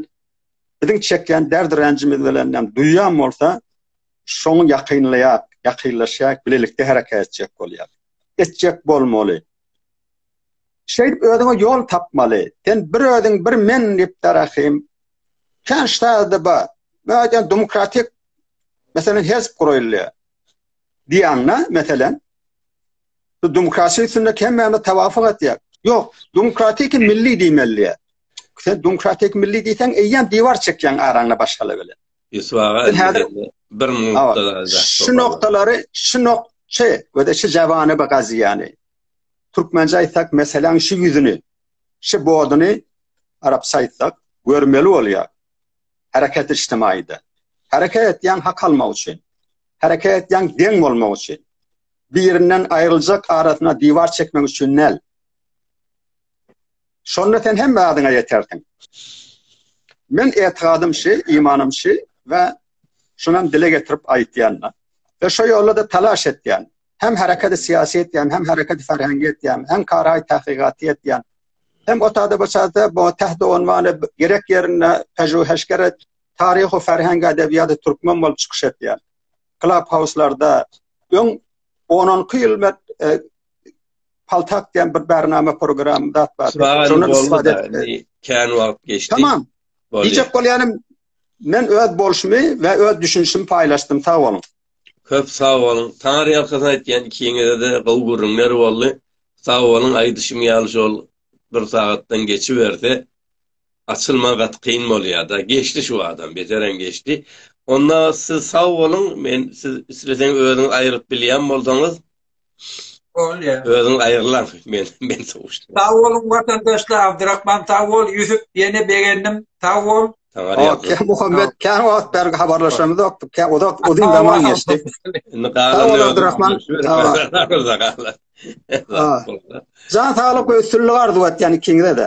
biziň çekýän dert-ränjimiz bilen näme duýýan bolsa, şoňa ýakynlaýar, ýakynlaşýar, bilelikde hereket etjek bolýar. Etjek bolmaly. Şeýdip özüňe ýol tapmaly. Sen bir özüň, bir men diýip darahym. Kän şäherde bar. Men aýdýan demokratik meselem hezp guraýylýar. Diýýäňnä, meselem. Demokratik sünnet hemmäme tawafuk etýär. Ýok, demokratik milli diýmeli. Sen demokratik milli diýseň, eýýäm diwar çekýän araňda başgala bilen. Ýuswaga bir noktada. Şu noktalary, şu nok Çe, we de şu jawany bu gaziýany. Türkmençe aýtsak, meseläň şu ýüzüni, şu boduny arapça aýtsak, görmeli bolýar. Hereket içtimaýda. Hereket etýän hak almak üçin. Hereket etýän deň bolmak üçin. Birinden aýryljak arasyna diwar çekmek üçin däl. Şonda sen hemme zadyňa ýetersiň. Men etikadym şi, imanym şi we şunam dile getirip aýtýan. We şo ýolda-da talaş etýän. Hem hereketi syýasy etýän, hem hereketi ferhengi etýän, hem karaý tahkygaty etýän. Hem o taýda bu çada bu täht onwany gerek ýerinde pejuheşgeret taryhy ferhengi edebiýady türkmen bolup çykyş etýän. Clubhouse-larda öň 10-12 ýyl men e, paltak diýen bir bernama programy dat bar. Şondan istifade etdi. Kän wagt geçdi. Tamam. Diýjek bolýanym men öz bolşumy we öz düşünişimi paýlaşdym. Sag boluň. Köp sag boluň. Taňar ýalkasy aýtýan ikiňizde gowy gürrüňler boldy. Sag boluň, aýdyşym ýaly şol bir sagatdan geçiberse, açylma gaty kyn bolýada geçdi şu adam beterem geçdi onda siz sag boluň men siz isleseň özüňiz aýrylyp bilýän bolsaňyz Bolýa. Özüň aýrylan men men sowuşdym. Sag boluň watandaşlar, Abdurrahman sag bol, Ýusup ýene begendim. Sag bol. Okey, Muhammed, kän wagt bäri habarlaşanymyz ýokdy. Kä uzak uzyn zaman geçdi. Indi galan Abdurrahman, sag bol. Jan saglyk we üstünlik arzuw etýän ikiňize-de.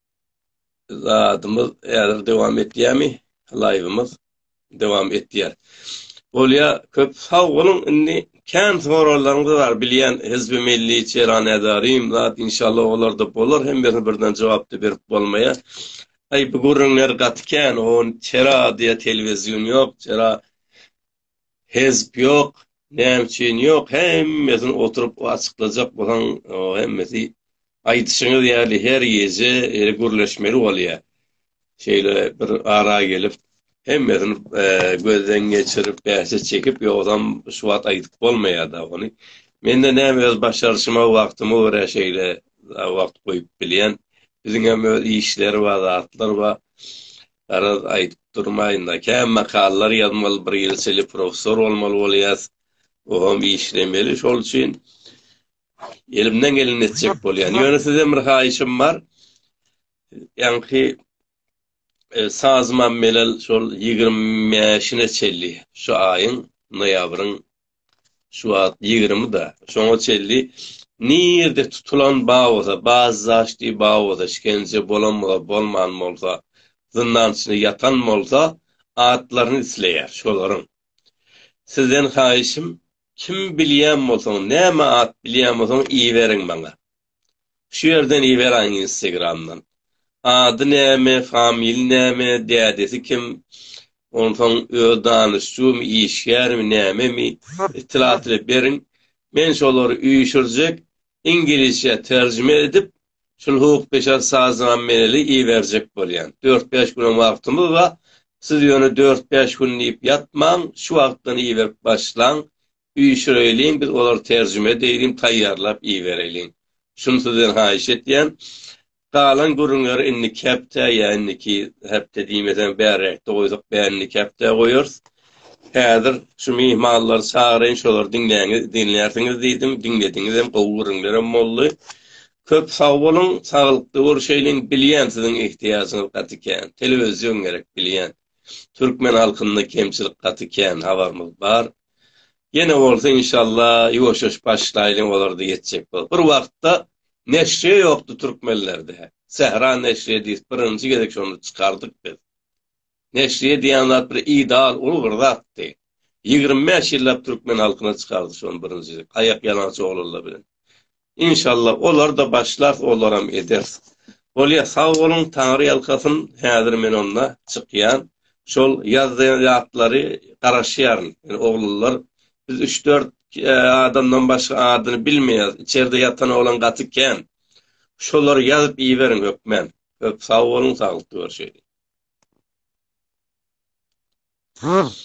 zadymyz häzir dowam etýärmi? Laýwymyz dowam etýär. Bolýa, köp sag boluň. Indi kän sorallaryňyz bar. Bilýän Hizbi Milli Çeran Edarim zat inşallah olarda bolar. Hemmesini birden jogapda berip bolmaýar. Aý bu gürrüňler gaty kän. Oň çera diýe telewizýun ýok. Çera Hezp ýok, näme üçin ýok hemmesini oturyp açyklajak bolsaň hemmesi aýdyşyňyz ýaly her gije ýeri gürleşmeli bolýa. Şeýle bir ara gelip hemmesini gözden geçirip bähje çekip ýogsam şu wagt aýdyp bolmaýada ony. Mende näme öz başaryşyma wagtyma görä şeýle wagt goýup bilýän. Biziňem öz işleri bar zatlar bar. Garaz aýdyp durmaýynda kä makallar ýazmaly bir ýyl içeli professor bolmaly bolýas oham işlemeli şol üçin elimden geleni etjek bolýan ýöne sizden bir haýyşym bar ýaňky e, sazymam melel şol ýigrimi bäşine çelli şu aýyň noýabryň Şu wagt ýigrimi-da. Şoňa çenli nirde tutulan bar bolsa, bazdaşdy bar bolsa, işgence bolan bolsa, bolman bolsa, zyndan içinde ýatan bolsa, atlaryny isleýär şolaryň. Sizden haýyşym, kim bilýän bolsaň, näme at bilýän bolsaň, iberiň maňa. Şu ýerden iberaýiň instagramdan. Ady näme, familiýasy näme, dädesi kim, onsoň öz danyşjymy, işgärmi, nämemi, itlaatyny beriň. Men şolary üýşürjek, iňlisçe terjime edip, şul hukukdeşar saznameli iberjek bolýan. Dört-bäş günem wagtymyz bar. Siz ýöne dört-bäş gün diýip ýatmaň, şu wagtdan iberip başlaň. Üýşüreýliň biz olary terjime edeýliň taýýarlap ibereýliň. Şuny sizden haýyş etýän. Galan gürrüňleri indiki hepdä ýa indiki hepde diýmeseň bärräkde goýsak bä indiki hepdä goýarys. Häzir şu myhmanlary çagyraýyn şolary diňläňiz diňlärsiňiz diýdim diňlediňizem gowy gürrüňlerem boldy. Köp sag boluň saglykly görüşeýliň bilýän siziň ihtiýajyňyz gaty kän telewizion gerek bilýän. Türkmen halkynda kemçilik gaty kän habarymyz bar. Ýene bolsa inşalla ýuwaşaş başlaýlyň olarda ýetjek bolup. Bir wagtda neşre ýokdy türkmenlerde. Sähra neşre diýip birinji gezek şonda çykardyk biz. Neşre diýen zat bir ideal uly bir zatdy. Ýigrimi bäş ýyllap türkmen halkyna çykardy şony birinji aýak ýalaňaç oglanlar bilen. Inşallah olarda başlars olaram eders. Bolýa sag boluň taňry ýalkasyn häzir men onda çykýan şol ýazýan zatlary garaşýaryn ýene oglanlar biz üç dört adamdan başga adyny bilmeýäs içerde ýatan oglan gaty kän şolary ýazyp iberiň hökman köp sag boluň saglykda görşeýlik.